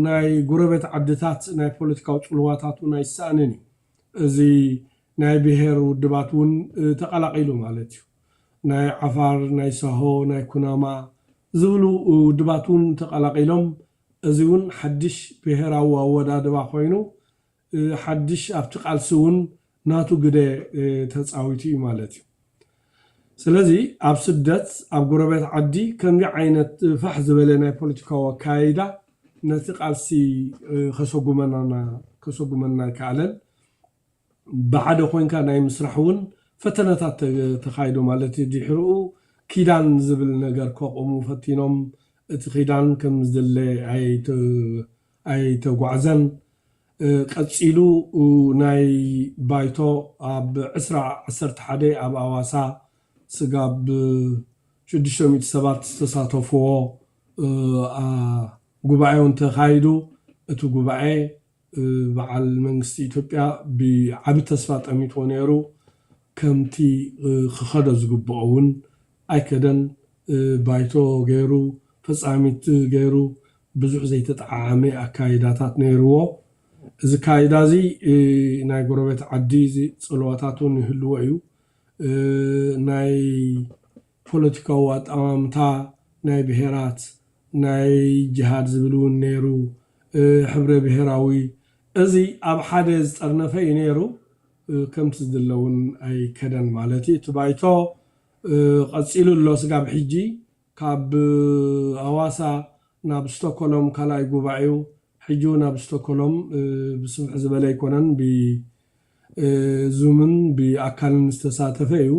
S2: ናይ ጉረቤት ዓድታት ናይ ፖለቲካዊ ጽልዋታት እውን ኣይሰኣንን እዩ። እዚ ናይ ብሄር ውድባት እውን ተቐላቒሉ ማለት እዩ። ናይ ዓፋር፣ ናይ ሳሆ፣ ናይ ኩናማ ዝብሉ ውድባት እውን ተቐላቒሎም እዚ እውን ሓድሽ ብሄራዊ ኣወዳድባ ኮይኑ ሓድሽ ኣብቲ ቃልሲ እውን ናቱ ግደ ተጻዊቱ እዩ ማለት እዩ። ስለዚ ኣብ ስደት ኣብ ጎረቤት ዓዲ ከምዚ ዓይነት ፋሕ ዝበለ ናይ ፖለቲካዊ ኣከያይዳ ነቲ ቃልሲ ከሰጉመናና ከሰጉመና ኣይከኣለን። ብሓደ ኮይንካ ናይ ምስራሕ እውን ፈተነታት ተኻይዱ ማለት እዩ። ድሕርኡ ኪዳን ዝብል ነገር ከቑሙ ፈቲኖም እቲ ኪዳን ከምዝድለ ኣይተ ኣይተጓዕዘን። ቀጺሉ ናይ ባይቶ ኣብ ዕስራ ዓሰርተ ሓደ ኣብ ኣዋሳ ስጋብ ሽዱሽተ ሚእቲ ሰባት ዝተሳተፍዎ ጉባኤውን ተኻይዱ። እቲ ጉባኤ በዓል መንግስቲ ኢትዮጵያ ብዓቢ ተስፋ ጠሚትዎ ነይሩ። ከምቲ ክኸዶ ዝግብኦ እውን ኣይከደን ባይቶ ገይሩ ፈጻሚት ገይሩ ብዙሕ ዘይተጠዓዓመ ኣካይዳታት ነይርዎ። እዚ ኣካይዳ እዚ ናይ ጎረቤት ዓዲ ጽልዋታት እውን ይህልዎ እዩ። ናይ ፖለቲካዊ ኣጠማምታ ናይ ብሄራት ናይ ጅሃድ ዝብል እውን ነይሩ፣ ሕብረ ብሄራዊ እዚ ኣብ ሓደ ዝጠርነፈ እዩ ነይሩ። ከምቲ ዝድለ ውን ኣይከደን ማለት እዩ እቲ ባይቶ ቐፂሉ ኣሎ ስጋብ ሕጂ ካብ ኣዋሳ ናብ ስቶኮሎም ካልኣይ ጉባኤኡ ሕጂ ውን ኣብ ስቶኮሎም ብስፍሕ ዝበለ ኣይኮነን ብ ዙምን ብ ኣካልን ዝተሳተፈ እዩ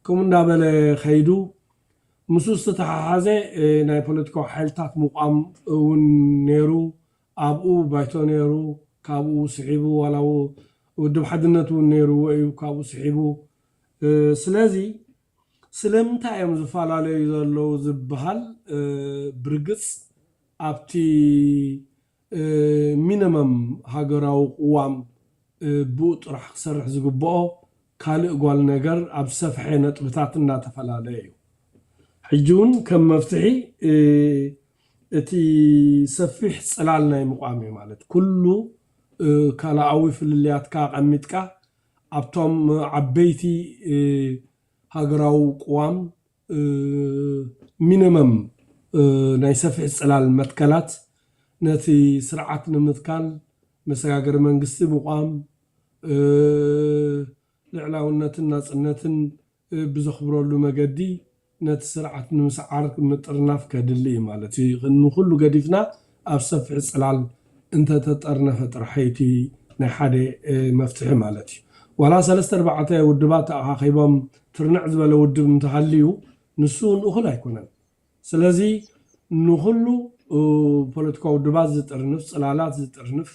S2: ከምኡ እንዳበለ ከይዱ ምስኡ ዝተተሓሓዘ ናይ ፖለቲካዊ ሓይልታት ምቋም ውን ነይሩ ኣብኡ ባይቶ ነይሩ፣ ካብኡ ስሒቡ ዋላ ውድብ ሓድነት እውን ነይርዎ እዩ ካብኡ ስሒቡ። ስለዚ ስለምንታይ እዮም ዝፈላለዩ ዘለዉ ዝበሃል ብርግጽ ኣብቲ ሚነመም ሃገራዊ ቅዋም ብኡ ጥራሕ ክሰርሕ ዝግበኦ ካልእ ጓል ነገር ኣብ ዝሰፍሐ ነጥብታት እናተፈላለ እዩ። ሕጂ እውን ከም መፍትሒ እቲ ሰፊሕ ጽላል ናይ ምቛም እዩ። ማለት ኩሉ ካልኣዊ ፍልልያትካ ኣቐሚጥካ ኣብቶም ዓበይቲ ሃገራዊ ቅዋም ሚነመም ናይ ሰፍሒ ጽላል መትከላት ነቲ ስርዓት ንምትካል መሰጋገሪ መንግስቲ ምቛም፣ ልዕላውነትን ናጽነትን ብዘኽብረሉ መገዲ ነቲ ስርዓት ንምስዓር ምጥርናፍ ከድሊ እዩ ማለት እዩ። ንኹሉ ገዲፍና ኣብ ሰፊሕ ጽላል እንተ ተጠርነፈ ጥራሕ እዩ እቲ ናይ ሓደ መፍትሒ ማለት እዩ። ዋላ ሰለስተ ኣርባዕተ ውድባት ተኣኻኺቦም ትርንዕ ዝበለ ውድብ እንተ ሃልዩ ንሱ እውን እኹል ኣይኮነን። ስለዚ ንኹሉ ፖለቲካዊ ውድባት ዝጥርንፍ፣ ጽላላት ዝጥርንፍ፣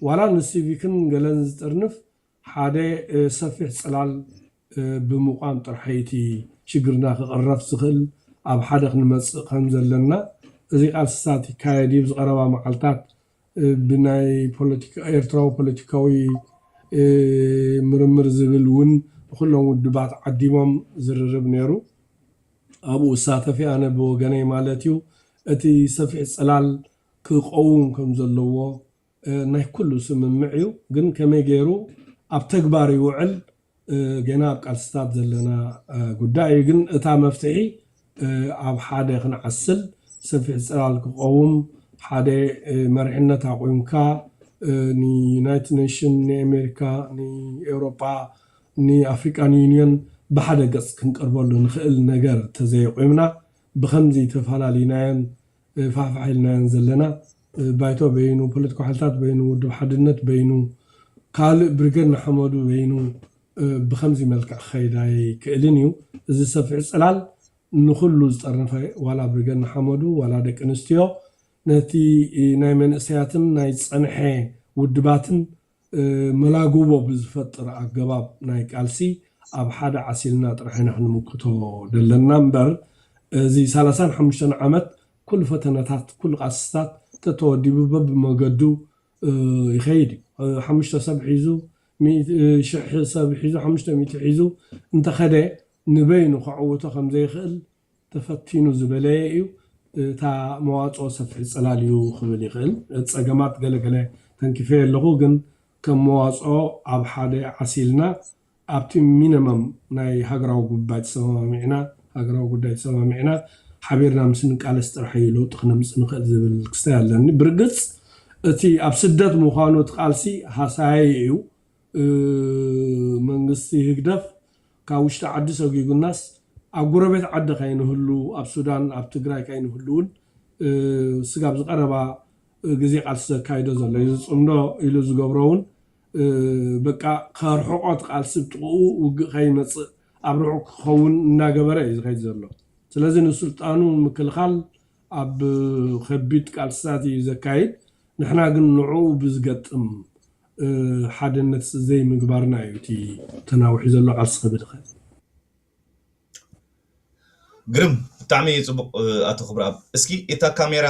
S2: ዋላ ንሲቪክን ገለን ዝጥርንፍ ሓደ ሰፊሕ ጽላል ብምቛም ጥራሕ'ዩ እቲ ሽግርና ክቕረፍ ዝኽእል፣ ኣብ ሓደ ክንመጽእ ከም ዘለና፣ እዚ ቃልስታት ይካየድ ኣብ ዝቐረባ መዓልታት ብናይ ኤርትራዊ ፖለቲካዊ ምርምር ዝብል ውን ንኹሎም ውድባት ዓዲሞም ዝርርብ ነይሩ፣ ኣብኡ እሳተፍ'የ ኣነ ብወገነይ ማለት'ዩ፣ እቲ ሰፊሕ ጽላል ክቐውም ከም ዘለዎ ናይ ኩሉ ስምምዕ እዩ ግን ከመይ ገይሩ ኣብ ተግባር ይውዕል ገና ኣብ ቃልስታት ዘለና ጉዳይ እዩ ግን እታ መፍትሒ ኣብ ሓደ ክንዓስል ሰፊሕ ጽላል ክቐውም ሓደ መሪሕነት ኣቑምካ ንዩናይትድ ኔሽን ንኤሜሪካ ንኤውሮጳ ንኣፍሪቃን ዩንዮን ብሓደ ገጽ ክንቀርበሉ ንኽእል ነገር ተዘየቑምና ብኸምዚ ተፋላሊናዮን ፋሕፋሕ ኢልናየን ዘለና። ባይቶ በይኑ፣ ፖለቲካዊ ሓይልታት በይኑ፣ ውድብ ሓድነት በይኑ፣ ካልእ ብርጌድ ንሓመዱ በይኑ ብኸምዚ መልክዕ ክኸይድ ኣይክእልን ኢዩ። እዚ ሰፊሕ ጽላል ንኹሉ ዝጠርነፈ ዋላ ብርጌድ ንሓመዱ ዋላ ደቂ ኣንስትዮ ነቲ ናይ መንእሰያትን ናይ ዝጸንሐ ውድባትን መላግቦ ብዝፈጥር ኣገባብ ናይ ቃልሲ ኣብ ሓደ ዓሲልና ጥራሕ ኢና ክንምክቶ ደለና እምበር እዚ ሰላሳን ሓሙሽተን ዓመት ኩሉ ፈተነታት ኩሉ ቃልስታት ተተወዲቡ በብመገዱ ይኸይድ እዩ ሓሙሽተ ሰብ ሒዙ ሽሕ ሰብ ሒዙ ሓሙሽተ ሚእቲ ሒዙ እንተኸደ ንበይኑ ከዕውቶ ከምዘይኽእል ተፈቲኑ ዝበለየ እዩ። እታ መዋጽኦ ሰፍሒ ጽላል እዩ ክብል ይኽእል። ነቲ ጸገማት ገለ ገለ ተንኪፈዮ ኣለኹ፣ ግን ከም መዋጽኦ ኣብ ሓደ ዓሲልና ኣብቲ ሚነመም ናይ ሃገራዊ ጉባይ ተሰማሚዕና ሃገራዊ ጉዳይ ተሰማሚዕና ሓቢርና ምስ ንቃለስ ጥራሕ እዩ ለውጢ ክነምጽእ ንኽእል ዝብል ክስታይ ኣለኒ። ብርግጽ እቲ ኣብ ስደት ምዃኑ እቲ ቃልሲ ሃሳያይ እዩ። መንግስቲ ህግደፍ ካብ ውሽጢ ዓዲ ሰጒጉናስ ኣብ ጎረቤት ዓዲ ከይንህሉ ኣብ ሱዳን ኣብ ትግራይ ከይንህሉ ውን ስጋብ ዝቀረባ ግዜ ቃልሲ ዘካይዶ ዘሎ እዩ ዝጽምዶ ኢሉ ዝገብሮ ውን በቃ ከርሕቆ እቲ ቃልሲ ብ ጥቅኡ ውግእ ከይመጽእ ኣብ ርሑቅ ክከውን እናገበረ እዩ ዝከይድ ዘሎ ስለዚ ንስልጣኑ ንምክልካል ኣብ ከቢድ ቃልስታት እዩ ዘካይድ ንሕና ግን ንዕኡ ብዝገጥም ሓደነት ዘይምግባርና እዩ እቲ ተናዊሑ ዘሎ ቃልሲ ክብል ይክእል።
S1: ግርም ብጣዕሚ ጽቡቅ ኣቶ ክብርኣብ እስኪ እታ ካሜራ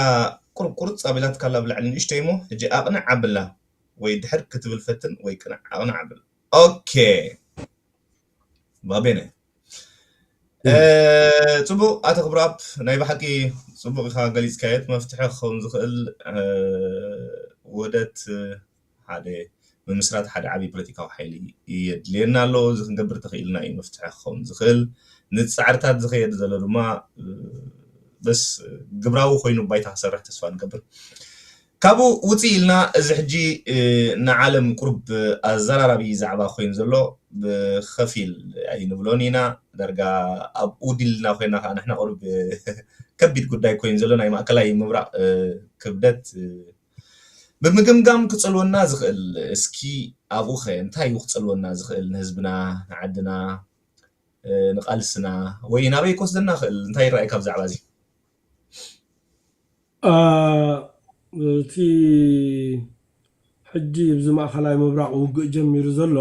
S1: ቁሩብ ቁርጽ ኣቢላትካ ኣላ ብላዕሊ ንእሽተይ እሞ ሕጂ ኣቅንዕ ኣብላ ወይ ድሕር ክትብል ፈትን ወይ ቅንዕ ኣቅንዕ ኣብላ ኦኬ። ባቤነ ፅቡቅ ኣቶ ክብረኣብ ናይ ብሓቂ ፅቡቅ ኢካ ገሊፅካዮ እቲ መፍትሒ ክከውን ዝክእል ውህደት ሓደ ምምስራት ሓደ ዓብዪ ፖለቲካዊ ሓይሊ የድልየና ኣሎ እዚ ክንገብር ተክኢልና እዩ መፍትሒ ክከውን ዝክእል ንፃዕርታት ዝከየድ ዘሎ ድማ በስ ግብራዊ ኮይኑ ባይታ ክሰርሕ ተስፋ ንገብር ካብኡ ውጽእ ኢልና እዚ ሕጂ ንዓለም ቁሩብ ኣዘራራቢ ዛዕባ ኮይኑ ዘሎ ብኸፊል ኣይንብሎን ኢና ዳርጋ ኣብኡ ድልና ኮይና ከኣ ንሕና ቁሩብ ከቢድ ጉዳይ ኮይኑ ዘሎ ናይ ማእከላይ ምብራቕ ክብደት ብምግምጋም ክጸልወና ዝኽእል እስኪ ኣብኡኸ እንታይ'ዩ ክጸልወና ዝኽእል ንህዝብና ንዓድና ንቓልስና ወይ ናበይ ክወስደና ይኽእል እንታይ ይረኣየካ ብዛዕባ'ዚ?
S2: እቲ ሕጂ ኣብዚ ማእከላይ ምብራቕ ውግእ ጀሚሩ ዘሎ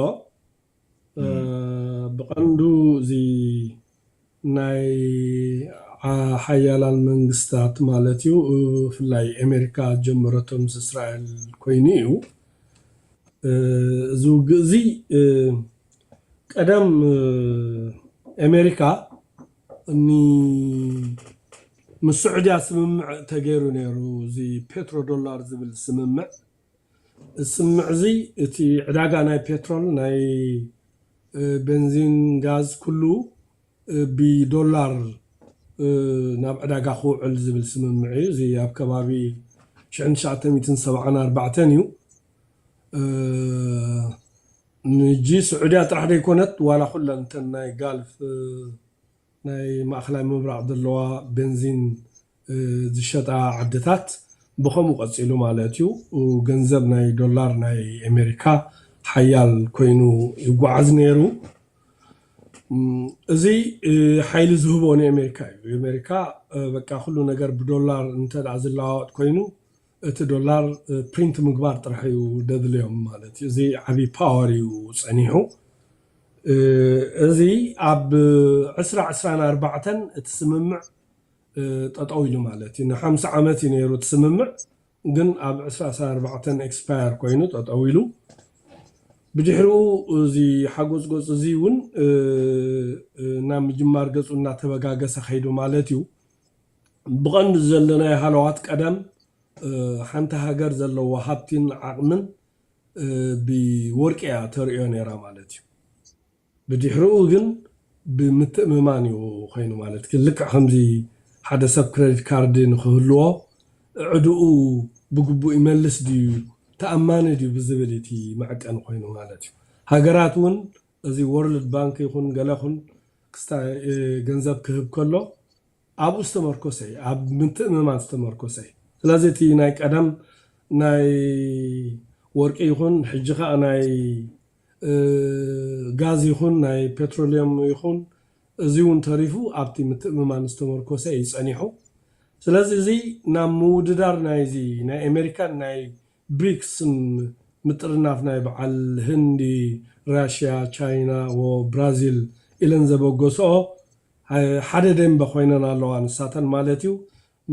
S2: ብቐንዱ እዚ ናይ ሓያላን መንግስታት ማለት እዩ ብፍላይ ኣሜሪካ ዝጀመረቶ ምስ እስራኤል ኮይኑ እዩ እዚ ውግእ እዚ ቀደም ኣሜሪካ ን ምስ ሱዑድያ ስምምዕ ተገይሩ ነይሩ እዚ ፔትሮ ዶላር ዝብል ስምምዕ እዚ ስምምዕ እዚ እቲ ዕዳጋ ናይ ፔትሮል ናይ በንዚን ጋዝ ኩሉ ብ ዶላር ናብ ዕዳጋ ክውዕል ዝብል ስምምዕ እዩ እዚ ኣብ ከባቢ ሽሕን ትሽዓተ ሚእትን ሰብዓን ኣርባዕተን እዩ። ንጂ ስዑድያ ጥራሕ ደይኮነት ዋላ ኩለን እተን ናይ ጋልፍ ናይ ማእከላይ ምብራቅ ዘለዋ በንዚን ዝሸጣ ዓድታት ብከምኡ ቀጺሉ ማለት እዩ ገንዘብ ናይ ዶላር ናይ ኤመሪካ ሓያል ኮይኑ ይጓዓዝ ነይሩ እዚ ሓይሊ ዝህቦ ንኤመሪካ እዩ ኤመሪካ በቃ ኩሉ ነገር ብዶላር እንተ ዝለዋወጥ ኮይኑ እቲ ዶላር ፕሪንት ምግባር ጥራሕ እዩ ደድልዮም ማለት እዩ እዚ ዓብይ ፓወር እዩ ፀኒሑ እዚ ኣብ ዕስራ ዕስራን ኣርባዕተን እቲ ስምምዕ ጠጠው ኢሉ ማለት እዩ ንሓምሳ ዓመት እዩ ነይሩ እቲ ስምምዕ ግን ኣብ ዕስራ ዕስራን ኣርባዕተን ኤክስፓየር ኮይኑ ጠጠው ኢሉ ብድሕሪኡ እዚ ሓጎፅጎፅ እዚ እውን ናብ ምጅማር ገፁ እናተበጋገሰ ከይዱ ማለት እዩ ብቐንዱ ዘለናዮ ሃለዋት ቀደም ሓንቲ ሃገር ዘለዋ ሃብቲን ዓቕምን ብወርቂ እያ ተርእዮ ነይራ ማለት እዩ። ብድሕርኡ ግን ብምትእምማን እዩ ኾይኑ ማለት ግን ልክዕ ከምዚ ሓደ ሰብ ክረዲት ካርዲ ንክህልዎ ዕድኡ ብግቡእ ይመልስ ድዩ ተኣማኒ ድዩ ብዝብል እቲ መዐቀኒ ኾይኑ ማለት እዩ። ሃገራት እውን እዚ ወርልድ ባንክ ይኹን ገለ ኹን ክስታ ገንዘብ ክህብ ከሎ ኣብኡ ዝተመርኮሰ እዩ፣ ኣብ ምትእምማን ዝተመርኮሰ እዩ። ስለዚ እቲ ናይ ቀደም ናይ ወርቂ ይኹን ሕጂ ከኣ ናይ ጋዝ ይኹን ናይ ፔትሮልየም ይኹን እዚ እውን ተሪፉ ኣብቲ ምትእምማን ዝተመርኮሰ እዩ ጸኒሑ። ስለዚ እዚ ናብ ምውድዳር ናይዚ ናይ ኣሜሪካን ናይ ብሪክስ ምጥርናፍ ናይ በዓል ህንዲ፣ ራሽያ፣ ቻይና ወ ብራዚል ኢለን ዘበገስኦ ሓደ ደንበ ኮይነን ኣለዋ ንሳተን ማለት እዩ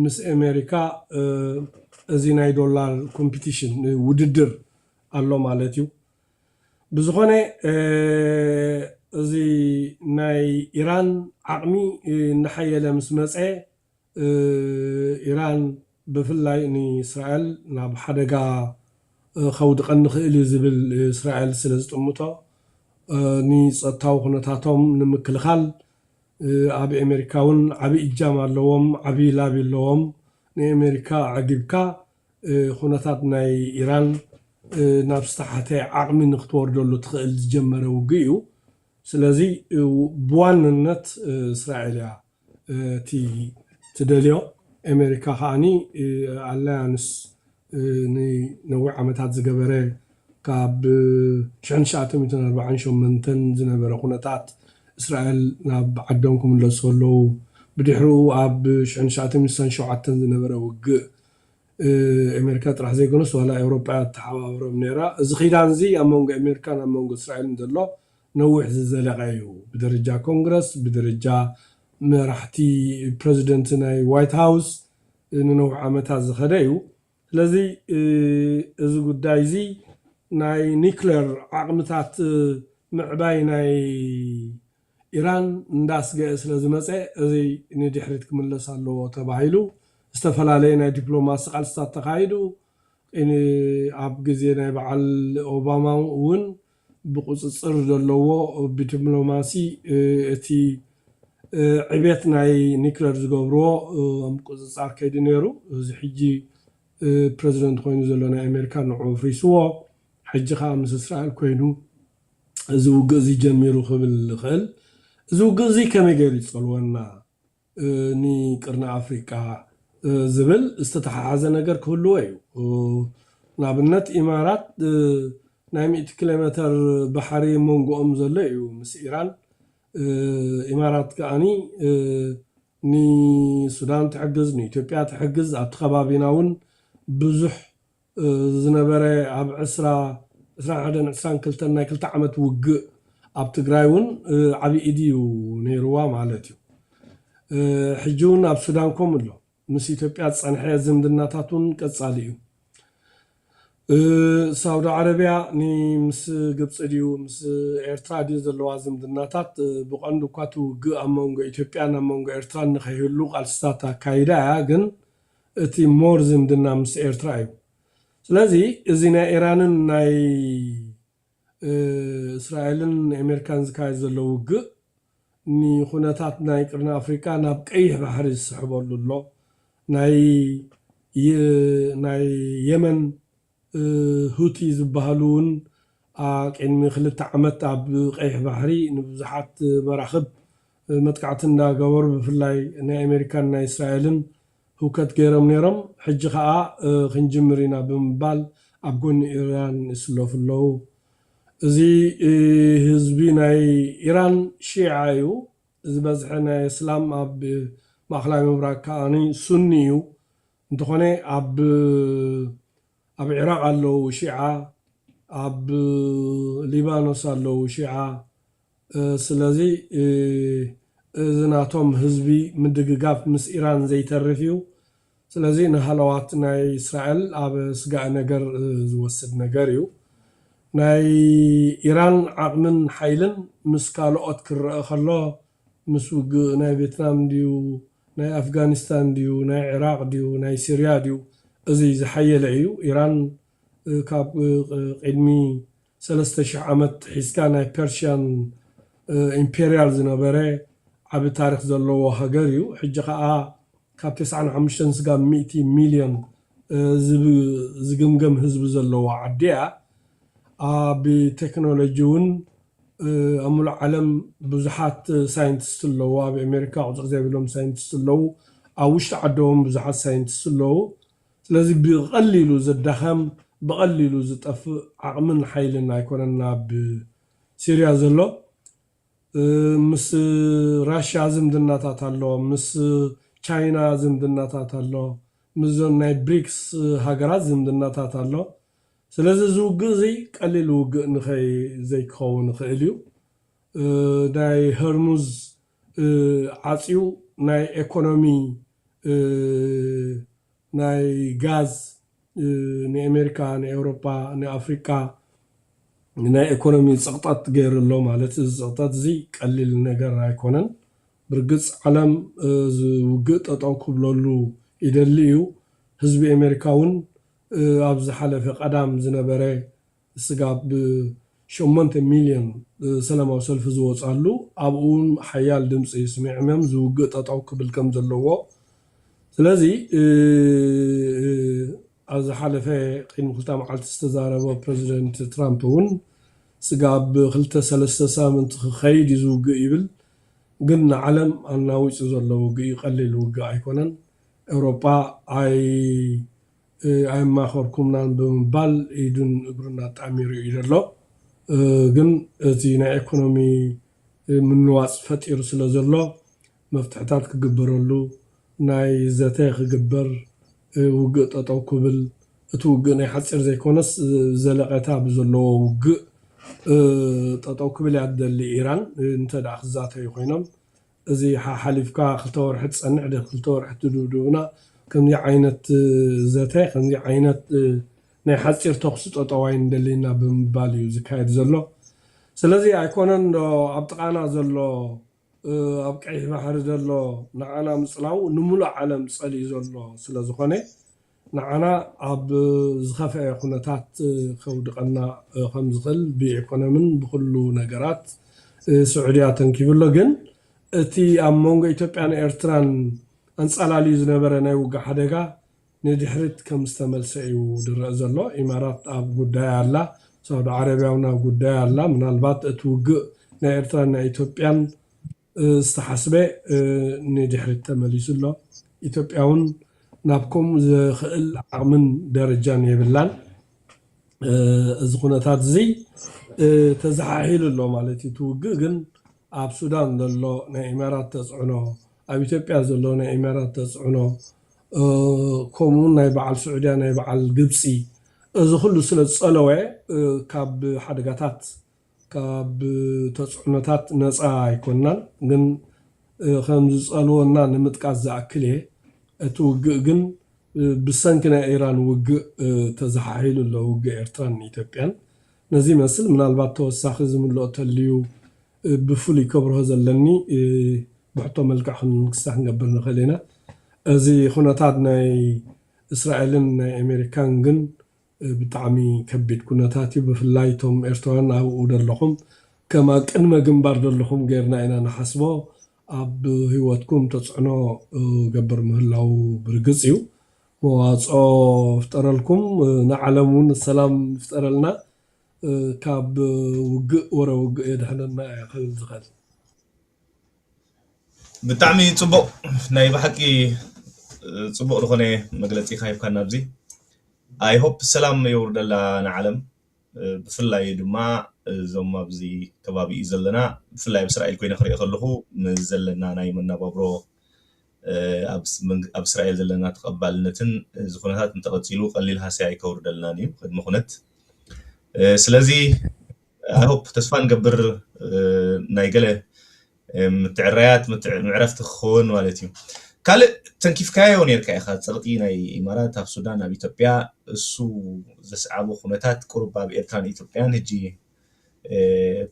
S2: ምስ ኤሜሪካ እዚ ናይ ዶላር ኮምፒቲሽን ውድድር ኣሎ ማለት እዩ ብዝኾነ እዚ ናይ ኢራን ዓቕሚ እናሓየለ ምስ መጸ ኢራን ብፍላይ ንእስራኤል ናብ ሓደጋ ከውድቐኒ ይኽእል እዩ ዝብል እስራኤል ስለ ዝጥምቶ ንጸጥታዊ ኩነታቶም ንምክልኻል ኣብ ኤሜሪካ ውን ዓቢ እጃም ኣለዎም ዓቢ ላቢ ኣለዎም ንኤሜሪካ ኣዕጊብካ ኩነታት ናይ ኢራን ናብ ዝተሓተ ዓቕሚ ንክትወርደሉ ትኽእል ዝጀመረ ውግእ እዩ ስለዚ ብዋንነት እስራኤል እያ እቲ ትደልዮ ኤመሪካ ከኣ ኣላያንስ ንነዊሕ ዓመታት ዝገበረ ካብ ሽሕን ትሽዓተ ሚእትን ኣርባዓን ሸሞንተን ዝነበረ ኩነታት እስራኤል ናብ ዓዶም ክምለሱ ከለዉ ብድሕርኡ ኣብ ሽሕን ትሽዓተ ሚእትን ስሳን ሸውዓተን ዝነበረ ውግእ ኤመሪካ ጥራሕ ዘይኮነስ ዋላ ኤውሮጳ እያ ትተሓባበሮም ነይራ እዚ ኪዳንዚ ኣብ መንጎ ኤመሪካን ኣብ መንጎ እስራኤልን ዘሎ ነዊሕ ዝዘለቐ እዩ። ብደረጃ ኮንግረስ፣ ብደረጃ መራሕቲ ፕረዚደንት ናይ ዋይት ሃውስ ንነዊሕ ዓመታት ዝኸደ እዩ። ስለዚ እዚ ጉዳይ እዚ ናይ ኒክለር ዓቕምታት ምዕባይ ናይ ኢራን እንዳስገእ ስለ ዝመጸ እዚ ንድሕሪት ክምለስ ኣለዎ ተባሂሉ ዝተፈላለየ ናይ ዲፕሎማሲ ቃልስታት ተኻይዱ። ኣብ ግዜ ናይ በዓል ኦባማ እውን ብቁጽጽር ዘለዎ ብድፕሎማሲ እቲ ዕብየት ናይ ኒክለር ዝገብርዎ ምቁጽጻር ከይዲ ነይሩ እዚ ሕጂ ፕረዚደንት ኮይኑ ዘሎ ናይ ኣሜሪካ ንዑ ኣፍሪስዎ ሕጂ ከኣ ምስ እስራኤል ኮይኑ እዚ ውግእ እዚ ጀሚሩ ክብል ዝኽእል እዚ ውግእ እዚ ከመይ ገይሩ ይጸልወና ን ቅርኒ ኣፍሪቃ ዝብል ዝተተሓሓዘ ነገር ክህልዎ እዩ። ንኣብነት ኢማራት ናይ ሚእቲ ኪሎሜተር ባሕሪ ሞንጎኦም ዘሎ እዩ ምስ ኢራን። ኢማራት ከኣኒ ንሱዳን ትሕግዝ ንኢትዮጵያ ትሕግዝ ኣብቲ ከባቢና ውን ብዙሕ ዝነበረ ኣብ ዕስራ፣ ዕስራን ሓደን ዕስራን ክልተን ናይ ክልተ ዓመት ውግእ ኣብ ትግራይ ውን ዓብይ ኢድ እዩ ነይርዋ ማለት እዩ። ሕጂ ውን ኣብ ሱዳን ከምኡ ኣሎ። ምስ ኢትዮጵያ ዝጸንሐ ዝምድናታት ውን ቀጻሊ እዩ። ሳውዲ ዓረብያ ን ምስ ግብጺ ድዩ ምስ ኤርትራ ድዩ ዘለዋ ዝምድናታት ብቀንዱ እኳ እቲ ውግእ ኣብ መንጎ ኢትዮጵያን ኣብ መንጎ ኤርትራን ንከይህሉ ቃልስታት ኣካይዳ እያ ግን እቲ more ዝምድና ምስ ኤርትራ እዩ ስለዚ እዚ ናይ ኢራንን ናይ እስራኤልን ኤሜርካን ዝካየድ ዘሎ ውግእ ንኩነታት ናይ ቅርኒ ኣፍሪቃ ናብ ቀይሕ ባሕሪ ዝስሕበሉ ኣሎ ናይ ናይ የመን ሁቲ ዝበሃሉ እውን ኣቅድሚ ክልተ ዓመት ኣብ ቀይሕ ባሕሪ ንብዙሓት መራኽብ መጥቃዕቲ እንዳገበሩ ብፍላይ ናይ ኣሜሪካን ናይ እስራኤልን ህውከት ገይሮም ነይሮም። ሕጂ ከኣ ክንጅምር ኢና ብምባል ኣብ ጎኒ ኢራን ይስለፉ ኣለዉ። እዚ ህዝቢ ናይ ኢራን ሺዓ እዩ። ዝበዝሐ ናይ እስላም ኣብ ማእከላይ ምብራቅ ከኣ ሱኒ እዩ። እንተኾነ ኣብ ኣብ ዒራቕ ኣለው ሺዓ ኣብ ሊባኖስ ኣለው ሺዓ ስለዚ እዚ ናቶም ህዝቢ ምድግጋፍ ምስ ኢራን ዘይተርፍ እዩ ስለዚ ንሃለዋት ናይ እስራኤል ኣብ ስጋእ ነገር ዝወስድ ነገር እዩ ናይ ኢራን ዓቕምን ሓይልን ምስ ካልኦት ክረኣ ከሎ ምስ ውግእ ናይ ቬትናም ድዩ ናይ ኣፍጋኒስታን ድዩ ናይ ዒራቕ ድዩ ናይ ሲርያ ድዩ እዚ ዝሓየለ እዩ። ኢራን ካብ ቒድሚ ሰለስተ ሽሕ ዓመት ሒዝካ ናይ ፐርሽያን ኢምፔርያል ዝነበረ ዓቢ ታሪኽ ዘለዎ ሃገር እዩ። ሕጂ ከኣ ካብ ተስዓን ሓሙሽተን ስጋብ ሚእቲ ሚልዮን ዝግምገም ህዝቢ ዘለዋ ዓዲ እያ። ኣብ ቴክኖሎጂ ውን ኣብ ምሉእ ዓለም ብዙሓት ሳይንትስት ኣለዉ ኣብ ኤሜሪካ ቁጽሪ ዘይብሎም ሳይንትስት ኣለዉ ኣብ ውሽጢ ዓዶም ብዙሓት ሳይንትስት ኣለዉ ስለዚ ብቀሊሉ ዝዳኸም ብቀሊሉ ዝጠፍእ ዓቅምን ሓይልን ኣይኮነን ኣብ ሲርያ ዘሎ ምስ ራሽያ ዝምድናታት ኣሎ ምስ ቻይና ዝምድናታት ኣሎ ምስዞን ናይ ብሪክስ ሃገራት ዝምድናታት ኣሎ ስለዚ እዚ ውግእ እዚ ቀሊል ውግእ ንኸይ ዘይክኸውን ይኽእል እዩ። ናይ ሀርሙዝ ዓጽዩ ናይ ኤኮኖሚ ናይ ጋዝ ንኤሜሪካ ንኤውሮፓ ንኣፍሪቃ ናይ ኤኮኖሚ ጽቕጠት ገይሩ ኣሎ ማለት እዩ። እዚ ጽቕጠት እዚ ቀሊል ነገር ኣይኮነን። ብርግጽ ዓለም እዚ ውግእ ጠጠው ክብለሉ ይደሊ እዩ። ህዝቢ ኤሜሪካ እውን ኣብ ዝሓለፈ ቀዳም ዝነበረ ስጋብ ብ ሸሞንተ ሚልዮን ሰላማዊ ሰልፊ ዝወጽኣሉ ኣብኡውን ሓያል ድምጺ ስሚዕምም እዚ ውግእ ጠጠው ክብል ከም ዘለዎ ስለዚ ኣብ ዝሓለፈ ቅድሚ ክልተ መዓልቲ ዝተዛረቦ ፕረዚደንት ትራምፕ እውን ስጋብ ብ ክልተ ሰለስተ ሳምንቲ ክኸይድ እዩ እዚ ውግእ ይብል ግን ንዓለም ኣናዊጹ ዘሎ ውግእ እዩ ቀሊል ውግእ ኣይኮነን ኤውሮጳ ኣየማኸርኩምናን ብምባል ኢዱን እግሩን ኣጣሚሩ ኢዩ ዘሎ። ግን እቲ ናይ ኤኮኖሚ ምንዋጽ ፈጢሩ ስለ ዘሎ መፍትሕታት ክግበረሉ ናይ ዘተ ክግበር ውግእ ጠጠው ክብል እቲ ውግእ ናይ ሓጺር ዘይኮነስ ዘለቐታ ብዘለዎ ውግእ ጠጠው ክብል ኢያ ትደሊ ኢራን እንተ ክትዛተዩ ኮይኖም እዚ ሓሓሊፍካ ክልተ ወርሒ ትጸንሕ ድክ ክልተ ወርሒ ትድብዱብና ከምዚ ዓይነት ዘተ ከምዚ ዓይነት ናይ ሓጺር ተኩሲ ጠጠው ኣይንደልይና ብምባል እዩ ዝካየድ ዘሎ ስለዚ ኣይኮነን ዶ ኣብ ጥቃና ዘሎ ኣብ ቀይሕ ባሕሪ ዘሎ ንዓና ምጽላዉ ንሙሉእ ዓለም ጸሊኡ ዘሎ ስለ ዝኮነ ንዓና ኣብ ዝኸፍኤ ኩነታት ከውድቐና ከም ዝኽእል ብኢኮኖምን ብኹሉ ነገራት ስዑዲ ኣተንኪቡ ኣሎ ግን እቲ ኣብ መንጎ ኢትዮጵያን ኤርትራን ኣንጻላልዩ ዝነበረ ናይ ውግእ ሓደጋ ንድሕሪት ከም ዝተመልሰ እዩ ዝረእ ዘሎ ኢማራት ኣብ ጉዳያ ኣላ ሳውዲ ዓረብያውን ኣብ ጉዳያ ኣላ ምናልባት እቲ ውግእ ናይ ኤርትራን ናይ ኢትዮጵያን ዝተሓስበ ንድሕሪት ተመሊሱ ኣሎ። ኢትዮጵያ ውን ናብ ከምኡ ዘኽእል ዓቕምን ደረጃን የብላን። እዚ ኩነታት እዚ ተዘሓሒሉ ኣሎ ማለት እዩ። እቲ ውግእ ግን ኣብ ሱዳን ዘሎ ናይ ኢማራት ተፅዕኖ፣ ኣብ ኢትዮጵያ ዘሎ ናይ ኢማራት ተፅዕኖ ከምኡ ውን ናይ በዓል ስዑድያ ናይ በዓል ግብፂ እዚ ኹሉ ስለ ዝፀለወ ካብ ሓደጋታት ካብ ተጽዕኖታት ነጻ ኣይኮናን ግን ከም ዝጸልወና ንምጥቃስ ዝኣክል እየ እቲ ውግእ ግን ብሰንኪ ናይ ኢራን ውግእ ተዛሓሒሉ ኣሎ ውግእ ኤርትራን ኢትዮጵያን ነዚ ይመስል ምናልባት ተወሳኺ ዝምልኦ ተልዩ ብፍሉይ ከብርሆ ዘለኒ ብሕቶ መልክዕ ክንክሳ ክንገብር ንኽእል ኢና እዚ ኹነታት ናይ እስራኤልን ናይ ኣሜሪካን ግን ብጣዕሚ ከቢድ ኩነታት እዩ ብፍላይ እቶም ኤርትራውያን ኣብኡ ደለኹም ከም ኣብ ቅድመ ግንባር ደለኹም ገርና ኢና ንሓስቦ ኣብ ሂወትኩም ተጽዕኖ ገብር ምህላዉ ብርግጽ እዩ መዋጽኦ ፍጠረልኩም ንዓለም ውን ሰላም ይፍጠረልና ካብ ውግእ ወረ ውግእ የድሕነና እየ ክብል ዝኽእል።
S1: ብጣዕሚ ጽቡቕ ናይ ብሓቂ ጽቡቕ ዝኾነ መግለጺ ኢኻ ሂብካና ኣብዚ ኣይ ሆፕ ሰላም የውርደላ ንዓለም ብፍላይ ድማ እዞም ኣብዚ ከባቢ እዩ ዘለና ብፍላይ ኣብ እስራኤል ኮይነ ክሪኦ ከለኹ ዘለና ናይ መነባብሮ ኣብ እስራኤል ዘለና ተቐባልነትን እዚ ኩነታት እንተቐጺሉ ቀሊል ሃስያ ኣይከውርደልናን እዩ ቅድሚ ኩነት ስለዚ ኣይሆፕ ተስፋ ንገብር ናይ ገለ ምትዕራያት ምዕረፍቲ ክኸውን ማለት እዩ ካልእ ተንኪፍካዮ ነርካ ኢኻ ፀቕጢ ናይ ኢማራት ኣብ ሱዳን ኣብ ኢትዮጵያ እሱ ዘስዓቦ ኩነታት ቁሩብ ኣብ ኤርትራን ኢትዮጵያን ህጂ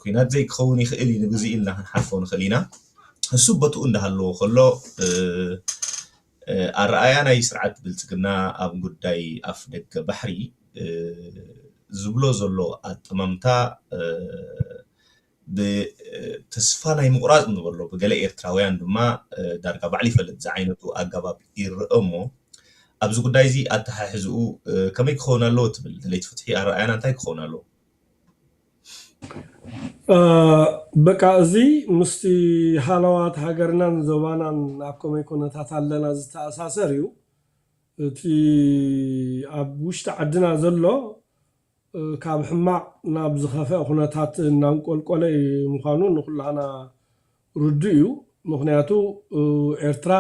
S1: ኩናት ዘይክኸውን ይኽእል እዩ ንግዜ ኢልና ክንሓልፎ ንኽእል ኢና እሱ ቦትኡ እንዳሃለዎ ከሎ ኣረኣእያ ናይ ስርዓት ብልፅግና ኣብ ጉዳይ ኣፍ ደገ ባሕሪ ዝብሎ ዘሎ ኣጠማምታ ብተስፋ ናይ ምቑራፅ ንበሎ ብገለ ኤርትራውያን ድማ ዳርጋ ባዕሉ ይፈልጥ ዝዓይነቱ ኣገባብ ይረኣ እሞ ኣብዚ ጉዳይ እዚ ኣተሓሕዝኡ ከመይ ክኸውን ኣለዎ ትብል? ደለይቲ ፍትሒ ኣረኣእያና እንታይ ክኸውን ኣለዎ?
S2: በቃ እዚ ምስቲ ሃለዋት ሃገርናን ዞባናን ኣብ ከመይ ኩነታት ኣለና ዝተኣሳሰር እዩ። እቲ ኣብ ውሽጢ ዓድና ዘሎ ካብ ሕማቕ ናብ ዝኸፍኣ ኩነታት እናንቆልቆለ ምዃኑ ንኹላህና ርዱእ እዩ። ምኽንያቱ ኤርትራ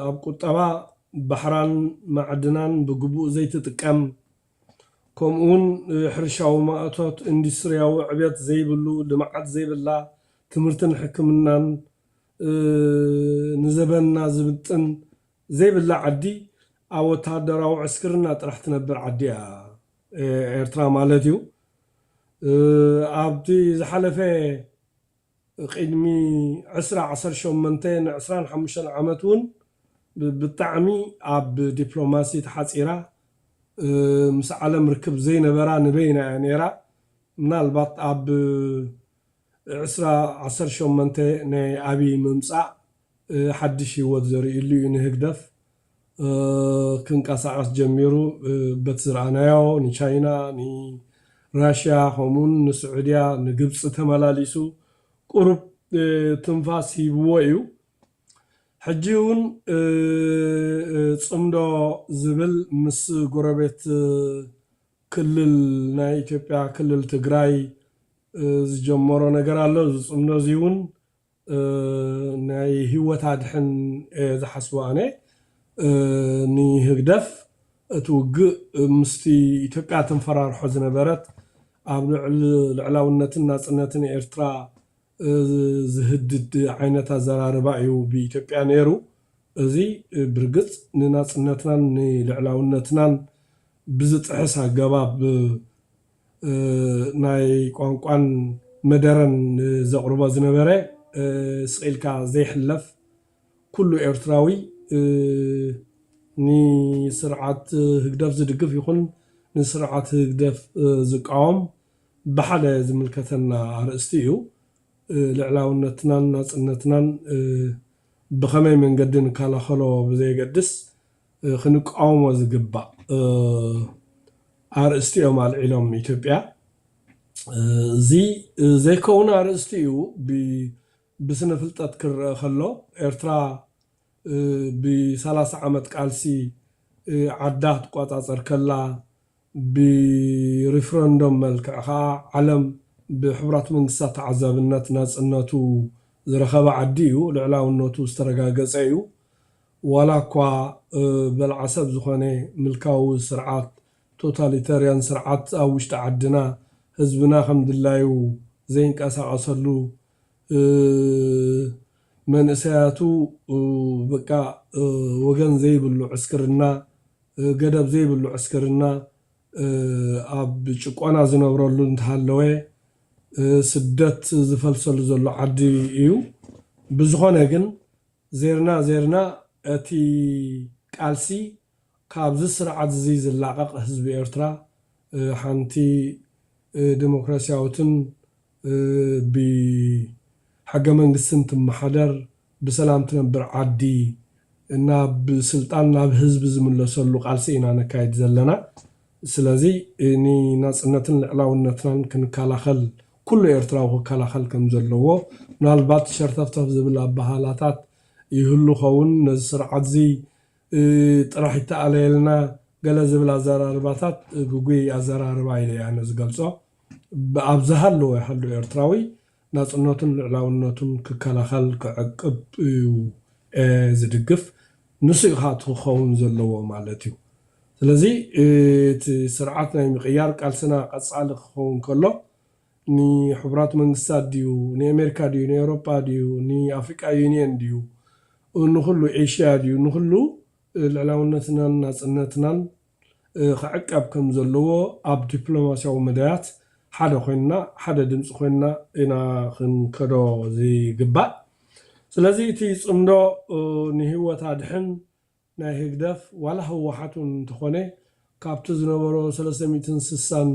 S2: ኣብ ቁጠባ፣ ባሕራን ማዕድናን ብግቡእ ዘይትጥቀም፣ ከምኡውን ሕርሻዊ ማእቶት፣ ኢንዱስትሪያዊ ዕብየት ዘይብሉ፣ ልምዓት ዘይብላ፣ ትምህርትን ሕክምናን ንዘበንና ዝምጥን ዘይብላ ዓዲ ኣብ ወተሃደራዊ ዕስክርና ጥራሕ ትነብር ዓዲ እያ ኤርትራ ማለት እዩ። ኣብቲ ዝሓለፈ። ቕድሚ ዕስራ ዓሰርተ ሸሞንተ ን ዕስራን ሓሙሽተን ዓመት ውን ብጣዕሚ ኣብ ዲፕሎማሲ ተሓጺራ ምስ ዓለም ርክብ ዘይነበራ ንበይና እያ ኔራ ምናልባት ኣብ ዕስራ ዓሰርተ ሸሞንተ ናይ ኣብይ ምምጻእ ሓድሽ ሂወት ዘሪእሉ እዩ ንህግደፍ ክንቀሳቐስ ጀሚሩ በቲ ዝረኣናዮ ንቻይና ንራሽያ ከምኡውን ንስዑድያ ንግብፂ ተመላሊሱ ቁሩብ ትንፋስ ሂብዎ እዩ ሕጂ እውን ፅምዶ ዝብል ምስ ጎረቤት ክልል ናይ ኢትዮጵያ ክልል ትግራይ ዝጀመሮ ነገር ኣሎ እዚ ፅምዶ እዚ እውን ናይ ሂወት ኣድሕን እየ ዝሓስቦ ኣነ ንህግደፍ እቲ ውግእ ምስቲ ኢትዮጵያ ተንፈራርሖ ዝነበረት ኣብ ልዕሊ ልዕላውነትን ናጽነትን ኤርትራ ዝህድድ ዓይነት ኣዘራርባ እዩ ብኢትዮጵያ ነይሩ እዚ ብርግጽ ንናጽነትናን ንልዕላውነትናን ብዝጥሕስ ኣገባብ ናይ ቋንቋን መደረን ንዘቕርቦ ዝነበረ ስቕ ኢልካ ዘይሕለፍ ኩሉ ኤርትራዊ ንስርዓት ህግደፍ ዝድግፍ ይኹን ንስርዓት ህግደፍ ዝቃወም ብሓደ ዝምልከተና ኣርእስቲ እዩ። ልዕላውነትናን ናጽነትናን ብኸመይ መንገዲ ንከላኸሎ ብዘየገድስ ክንቃወሞ ዝግባእ ኣርእስቲ እዮም ኣልዒሎም ኢትዮጵያ እዚ ዘይከውን ኣርእስቲ እዩ ብስነ ፍልጠት ክረኣ ከሎ ኤርትራ ብሳላሳ ዓመት ቃልሲ ዓዳ ክትቆጻጸር ከላ ብሪፍረንዶም መልክዕ ከኣ ዓለም ብሕቡራት መንግስታት ተዓዛብነት ናጽነቱ ዝረኸበ ዓዲ እዩ፣ ልዕላውነቱ ዝተረጋገጸ እዩ፣ ዋላ እኳ በላዓ ሰብ ዝኾነ ምልካዊ ስርዓት፣ ቶታሊተርያን ስርዓት፣ ኣብ ውሽጢ ዓድና ህዝብና ከም ድላዩ ዘይንቀሳቐሰሉ መንእሰያቱ በቃ ወገን ዘይብሉ ዕስክርና፣ ገደብ ዘይብሉ ዕስክርና፣ ኣብ ጭቆና ዝነብረሉ እንተሃለወ ስደት ዝፈልሰሉ ዘሎ ዓዲ እዩ። ብዝኾነ ግን ዜርና ዜርና እቲ ቃልሲ ካብዚ ስርዓትዚ ዝላቐቕ ህዝቢ ኤርትራ ሓንቲ ደሞክራሲያዊትን ብሕገመንግስትን ትመሓደር ብሰላም ትነብር ዓዲ ናብ ስልጣን ናብ ህዝቢ ዝምለሰሉ ቃልሲ ኢና ነካይድ ዘለና። ስለዚ ንናጽነትን ልዕላውነትናን ክንከላኸል ኩሉ ኤርትራዊ ክከላኸል ከም ዘለዎ ምናልባት ሸርተፍተፍ ዝብል ኣበሃህላታት ይህሉ ኸውን ነዚ ስርዓትዚ ጥራሕ ይተኣለየልና ገለ ዝብል ኣዘራርባታት ግጉይ ኣዘራርባ ኢለ እየ ኣነ ዝገልጾ። ኣብ ዝሃለወ ይሃሉ ኤርትራዊ ናጽነቱን ልዕላውነቱን ክከላኸል ክዕቅብ እዩ ዝድግፍ። ንሱ እዩ ከኣ እቲ ክኸውን ዘለዎ ማለት እዩ። ስለዚ እቲ ስርዓት ናይ ምቕያር ቃልስና ቀጻሊ ክኸውን ከሎ ንሕቡራት መንግስታት ድዩ ንኤሜርካ ድዩ ንኤውሮጳ ድዩ ንኣፍሪቃ ዩንየን ድዩ ንኹሉ ኤሽያ ድዩ ንኹሉ ልዕላውነትናን ናጽነትናን ክዕቀብ ከም ዘለዎ ኣብ ዲፕሎማስያዊ መዳያት ሓደ ኮይንና ሓደ ድምጺ ኮይንና ኢና ክንከዶ ዝግባእ ስለዚ እቲ ጽምዶ ንሂወት ኣድሕን ናይ ህግደፍ ዋላ ህወሓት ውን እንተኾነ ካብቲ ዝነበሮ ሰለስተ ሚእትን ስሳን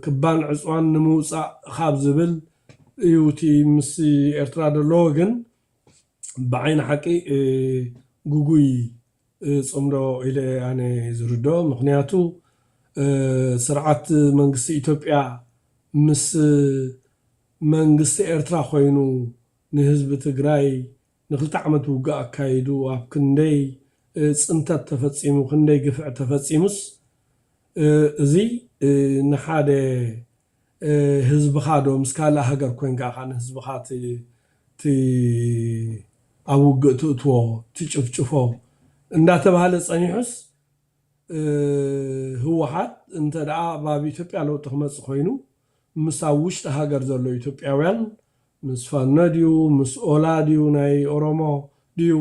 S2: ክባን ዕጽዋን ንምውጻእ ኻብ ዝብል እዩ እቲ ምስ ኤርትራ ደለዎ ግን ብዓይኒ ሓቂ ግጉይ ጽምዶ ኢለ እየ ኣነ ዝርድኦ ምኽንያቱ ስርዓት መንግስቲ ኢትዮጵያ ምስ መንግስቲ ኤርትራ ኮይኑ ንህዝቢ ትግራይ ንክልተ ዓመት ውግእ ኣካይዱ ኣብ ክንደይ ፅንተት ተፈፂሙ ክንደይ ግፍዒ ተፈፂሙስ እዚ ንሓደ ህዝብኻ ዶ ምስ ካልእ ሃገር ኮይንካ ኢኻ ንህዝብኻ ት ኣብ ውግእ ትእትዎ ትጭፍጭፎ እንዳተብሃለ ፀኒሑስ ህወሓት እንተድኣ ኣብ ኢትዮጵያ ለውጢ ክመፅእ ኮይኑ ምስ ኣብ ውሽጢ ሃገር ዘሎ ኢትዮጵያውያን ምስ ፋኖ ድዩ ምስ ኦላ ድዩ ናይ ኦሮሞ ድዩ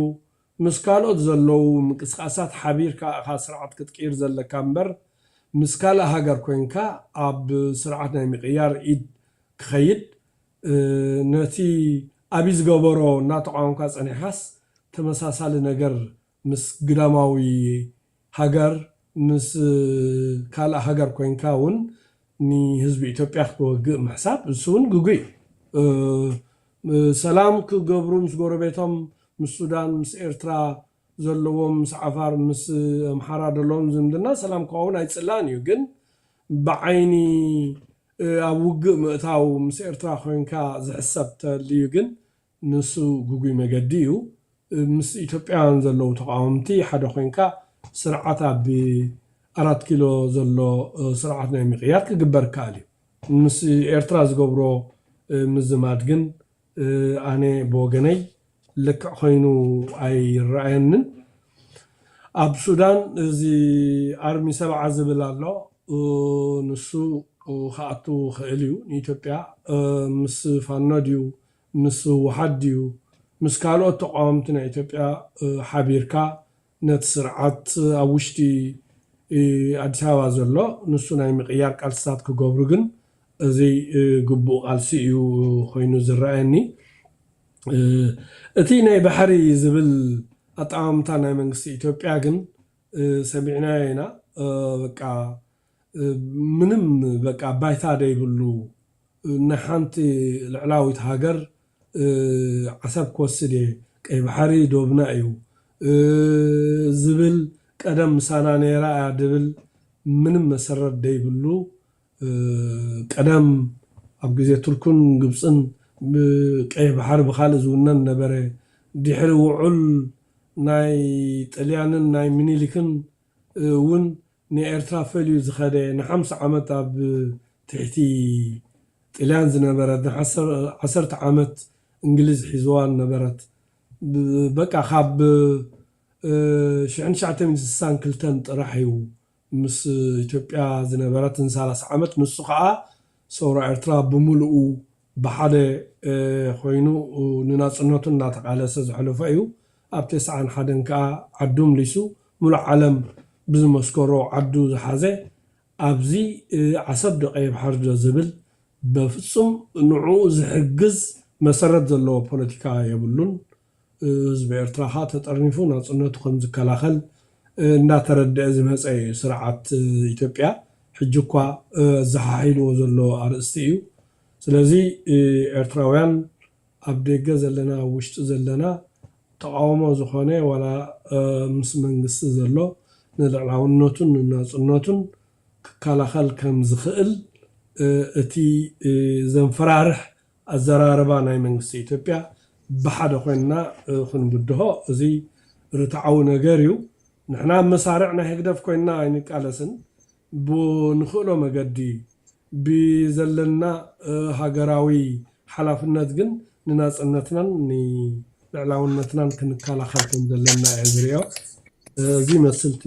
S2: ምስ ካልኦት ዘለዉ ምቅስቃሳት ሓቢርካ እኻ ስርዓት ክትቅይር ዘለካ እምበር ምስ ካልእ ሃገር ኮይንካ ኣብ ስርዓት ናይ ምቅያር ኢድ ክኸይድ ነቲ ኣብይ ዝገበሮ እናተቃወምካ ጸኒሕኻስ ተመሳሳሊ ነገር ምስ ግዳማዊ ሃገር ምስ ካልእ ሃገር ኮይንካ ውን ንህዝቢ ኢትዮጵያ ክትወግእ ምሕሳብ እሱ ውን ግጉይ እዩ። ሰላም ክገብሩ ምስ ጎረቤቶም ምስ ሱዳን ምስ ኤርትራ ዘለዎም ምስ ዓፋር ምስ ኣምሓራ ደለዎም ዝምድና ሰላም ክኸውን ኣይጽላእን እዩ ግን ብዓይኒ ኣብ ውግእ ምእታው ምስ ኤርትራ ኮይንካ ዝሕሰብ ተልዩ ግን ንሱ ግጉይ መገዲ እዩ። ምስ ኢትዮጵያውያን ዘለዉ ተቓወምቲ ሓደ ኮይንካ ስርዓት ኣብ ኣራት ኪሎ ዘሎ ስርዓት ናይ ምቕያር ክግበር ይከኣል እዩ። ምስ ኤርትራ ዝገብሮ ምዝማድ ግን ኣነ ብወገነይ ልክዕ ኮይኑ ኣይረኣየንን። ኣብ ሱዳን እዚ ኣርሚ ሰብዓ ዝብል ኣሎ ንሱ ክኣቱ ይኽእል እዩ ንኢትዮጵያ ምስ ፋኖ ድዩ ምስ ህወሓት ድዩ ምስ ካልኦት ተቓወምቲ ናይ ኢትዮጵያ ሓቢርካ ነቲ ስርዓት ኣብ ውሽጢ ኣዲስ ኣበባ ዘሎ ንሱ ናይ ምቕያር ቃልስታት ክገብሩ ግን እዙይ ግቡእ ቃልሲ እዩ ኾይኑ ዝረኣየኒ። እቲ ናይ ባሕሪ ዝብል ኣጠማምታ ናይ መንግስቲ ኢትዮጵያ ግን ሰሚዕናዮ ኢና በቃ ምንም በቃ ባይታ ደይብሉ ናይ ሓንቲ ልዕላዊት ሃገር ዓሰብ ክወስድ እየ ቀይ ባሕሪ ዶብና እዩ ዝብል ቀደም ምሳና ነይራ እያ ድብል ምንም መሰረት ደይብሉ ቀደም ኣብ ግዜ ቱርክን ግብጽን ቀይሕ ባሕሪ ብካልእ ዝውነን ነበረ ድሕሪ ውዑል ናይ ጥልያንን ናይ ሚኒሊክን ውን ንኤርትራ ፈልዩ ዝኸደ ንሓምሳ ዓመት ኣብ ትሕቲ ጥልያን ዝነበረት ንዓሰርተ ዓመት እንግሊዝ ሒዝዋ ነበረት በቃ ካብ ሽሕን ትሽዓተ ሚእትን ስሳን ክልተን ጥራሕ እዩ ምስ ኢትዮጵያ ዝነበረት ንሳላሳ ዓመት ንሱ ኸኣ ሰውራ ኤርትራ ብሙሉኡ ብሓደ ኮይኑ ንናጽነቱ እናተቓለሰ ዘሕለፎ እዩ። ኣብ ተስዓን ሓደን ከኣ ዓዱ ምሊሱ ምሉእ ዓለም ብዝመስከሮ ዓዱ ዝሓዘ ኣብዚ ዓሰብ ዶ ቀይሕ ባሕሪ ዶ ዝብል በፍጹም ንዕኡ ዝሕግዝ መሰረት ዘለዎ ፖለቲካ የብሉን። ህዝቢ ኤርትራ ከኣ ተጠርኒፉ ናጽነቱ ከም ዝከላኸል እናተረድኣ ዝመጸ ኢዩ። ስርዓት ኢትዮጵያ ሕጂ እኳ ኣዘሓሒልዎ ዘሎ ኣርእስቲ ኢዩ። ስለዚ ኤርትራውያን ኣብ ደገ ዘለና ኣብ ውሽጢ ዘለና ተቓውሞ ዝኾነ ዋላ ምስ መንግስቲ ዘሎ ንልዕላውነቱን ንናጽነቱን ክከላኸል ከም ዝኽእል እቲ ዘንፈራርሕ ኣዘራርባ ናይ መንግስቲ ኢትዮጵያ ብሓደ ኮይንና ክንብድሆ እዚ ርትዓዊ ነገር እዩ። ንሕና ኣብ መሳርዕ ናይ ህግደፍ ኮይንና ኣይንቃለስን። ብንኽእሎ መገዲ ብዘለና ሃገራዊ ሓላፍነት ግን ንናጽነትናን ንልዕላውነትናን ክንከላኸል ከም ዘለና እየ ዝሪኦ። እዚ ይመስል እቲ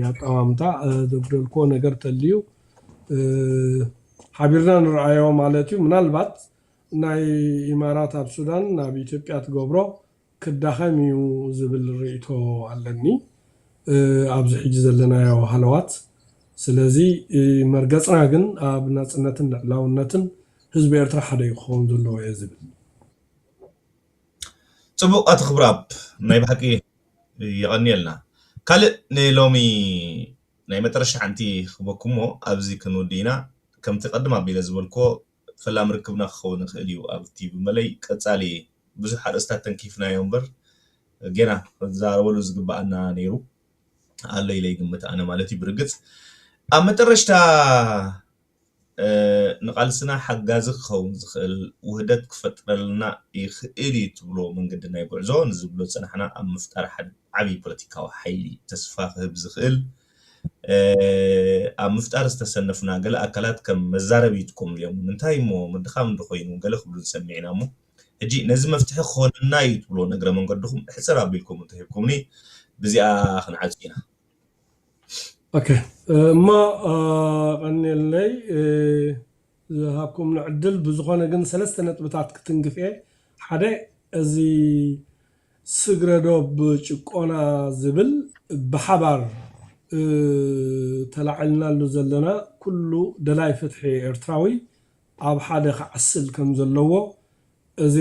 S2: ኣጠማምታ። ዘጉደልክዎ ነገር ተልዩ ሓቢርና ንርኣዮ ማለት እዩ ምናልባት ናይ ኢማራት ኣብ ሱዳን ናብ ኢትዮጵያ ትገብሮ ክዳኸም እዩ ዝብል ሪኢቶ ኣለኒ ኣብዚ ሕጂ ዘለናዮ ሃለዋት ስለዚ መርገጽና ግን ኣብ ናጽነትን ልዕላውነትን ህዝቢ ኤርትራ ሓደ እዩ ክኸውን ዘለዎ እየ ዝብል።
S1: ጽቡቅ ኣቲ ክብራብ ናይ ብሓቂ የቀንየልና ካልእ ንሎሚ ናይ መጠረሻ ሓንቲ ክህበኩም'ሞ ኣብዚ ክንውድእ ኢና። ከምቲ ቅድም ኣቢለ ዝበልክዎ ፈላሚ ርክብና ክኸውን ይኽእል እዩ ኣብ ቲቪ መለይ። ቀጻሊ ብዙሕ ኣርእስታት ተንኪፍናዮ እምበር ጌና ክንዛረበሉ ዝግበኣና ነይሩ ኣሎ ኢለ ይግምት ኣነ ማለት እዩ። ብርግጽ ኣብ መጠረሽታ። ንቓልስና ሓጋዚ ክኸውን ዝኽእል ውህደት ክፈጥረልና ይኽእል'ዩ ትብሎ መንገዲ ናይ ጉዕዞ ንዝብሎ ዝጸናሕና ኣብ ምፍጣር ሓደ ዓቢ ፖለቲካዊ ሓይሊ ተስፋ ክህብ ዝኽእል ኣብ ምፍጣር ዝተሰነፍና ገለ ኣካላት ከም መዛረቢ ይጥቀምሉ'ዮም እንታይ'ሞ ምድኻም እንተኾይኑ ገለ ክብሉ ሰሚዕና'ሞ ሕጂ ነዚ መፍትሒ ክኾነና'ዩ ትብሎ ንእግረ መንገድኹም ሕጽር ኣቢልኩም እንተሂብኩምኒ ብዚኣ ክንዓጹ ኢና።
S2: ኦኬ እሞ ቐንየለይ ዝሃብኩምኒ ዕድል ብዝኾነ ግን ሰለስተ ነጥብታት ክትንክፍ እየ ሓደ እዚ ስግረዶብ ጭቆና ዝብል ብሓባር ተላዒልናሉ ዘለና ኩሉ ደላይ ፍትሒ ኤርትራዊ ኣብ ሓደ ክዓስል ከም ዘለዎ እዚ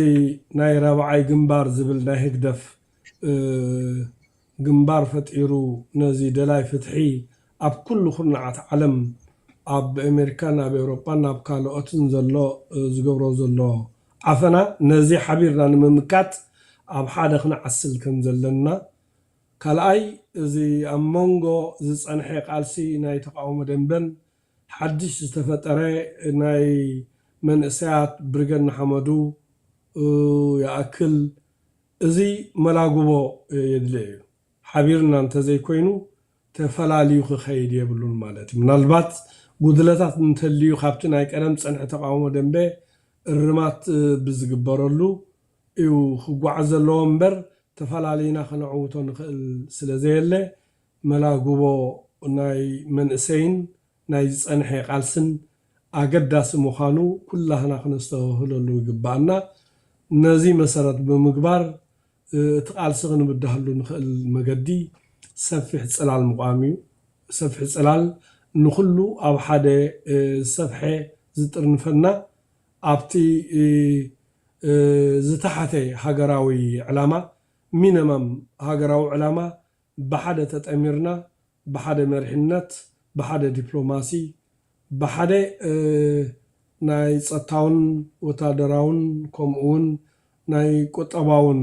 S2: ናይ ራብዓይ ግንባር ዝብል ናይ ህግደፍ ግንባር ፈጢሩ ነዚ ደላይ ፍትሒ ኣብ ኩሉ ኩርናዓት ዓለም ኣብ ኤሜሪካን ኣብ ኤውሮጳን ኣብ ካሎኦትን ዘሎ ዝገብሮ ዘሎ ዓፈና ነዚ ሓቢርና ንምምካት ኣብ ሓደ ክንዓስል ከም ዘለና ካልኣይ እዚ ኣብ ሞንጎ ዝጸንሐ ቃልሲ ናይ ተቃውሞ ደንበን ሓድሽ ዝተፈጠረ ናይ መንእሰያት ብርገድ ንሓመዱ ይኣክል እዚ መላግቦ የድልዮ እዩ። ሓቢርና እንተዘይኮይኑ ተፈላልዩ ክኸይድ የብሉን ማለት እዩ። ምናልባት ጉድለታት እንተልዩ ካብቲ ናይ ቀደም ጸንሒ ተቓውሞ ደምበ እርማት ብዝግበረሉ እዩ ክጓዓዝ ዘለዎ እምበር ተፈላሊና ክነዕውቶ ንኽእል ስለዘየለ መላግቦ ናይ መንእሰይን ናይ ዝጸንሐ ቃልስን ኣገዳሲ ምዃኑ ኩላህና ክነስተብህለሉ ይግባእና። ነዚ መሰረት ብምግባር እቲ ቃልሲ ክንብዳሃሉ ንኽእል መገዲ ሰፊሕ ጽላል ምቛም እዩ። ሰፊሕ ጽላል ንኹሉ ኣብ ሓደ ዝሰፍሐ ዝጥርንፈና ኣብቲ ዝተሓተ ሃገራዊ ዕላማ፣ ሚነመም ሃገራዊ ዕላማ፣ ብሓደ ተጠሚርና ብሓደ መሪሕነት ብሓደ ዲፕሎማሲ ብሓደ ናይ ጸጥታውን ወታደራውን ከምኡውን ናይ ቁጠባውን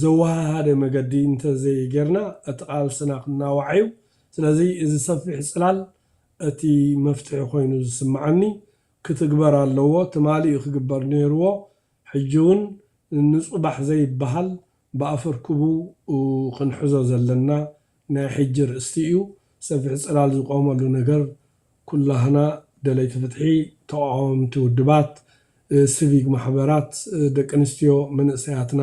S2: ዘወሃሃደ መገዲ እንተ ዘይጌርና እቲ ቃልስና ክናዋሕ እዩ። ስለዚ እዚ ሰፊሕ ጽላል እቲ መፍትሒ ኮይኑ ዝስምዓኒ ክትግበር ኣለዎ ትማሊ እዩ ክግበር ኔርዎ ሕጂውን ንጹባሕ ዘይበሃል ብኣፈርክቡ ክንሕዞ ዘለና ናይ ሕጂ ርእስቲ እዩ። ሰፊሕ ጽላል ዝቆመሉ ነገር ኩላህና ደለይቲ ፍትሒ፣ ተቋወምቲ ውድባት፣ ስቪግ ማሕበራት፣ ደቂ ኣንስትዮ፣ መንእሰያትና፣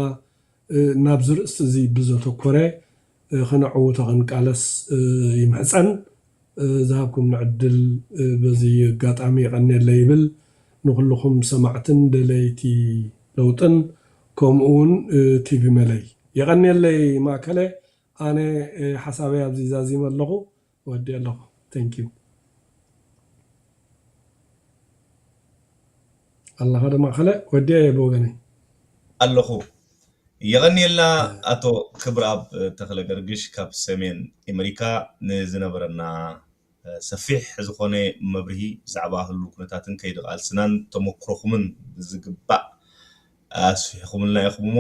S2: ናብዚ ርእስቲ እዚ ብዘተኮረ ከነዕውቶ ክንቃለስ ይምሕጸን። ዝሃብኩምኒ ዕድል በዚ ኣጋጣሚ የቐንየለይ ይብል። ንኹሉኹም ሰማዕትን ደለይቲ ለውጥን ከምኡ ውን ቲቪ መለይ። የቐንየለይ ማእከለ ኣነ ሓሳበይ ኣብዚ ዛዚመ ኣለኹ። ወዲኤ ኣለኹ thank you ኣለኻ ዶ ማእኸለ ወዲኤ እየ ብወገነይ። ኣለኹ
S1: የቐንየልና ኣቶ ክብርኣብ ተኽለገርግሽ ካብ ሰሜን ኤመሪካ ንዝነበረና ሰፊሕ ዝኾነ መብርሂ ብዛዕባ ህሉው ኩነታትን ከይዲ ቃልስናን ተሞክሮኹምን ብዝግባእ ኣስፊሕኹምልና ኢኹም እሞ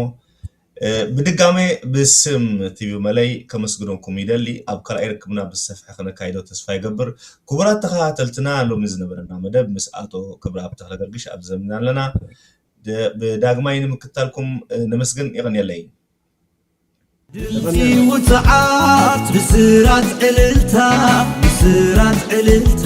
S1: ብድጋሜ ብስም ቲቪ መለይ ከመስግነኩም ይደሊ ኣብ ካልኣይ ርክብና ብዝሰፍሐ ክነካይዶ ተስፋ ይገብር ክቡራት ተከታተልትና ሎሚ ዝነበረና መደብ ምስ ኣቶ ክብርኣብ ተክለገርግሽ ኣብዚ ዘምና ኣለና ብዳግማይ ንምክታልኩም ነመስግን የቀንየለይ ድምፂ
S3: ውፅዓት ብስራት ዕልልታ ብስራት ዕልልታ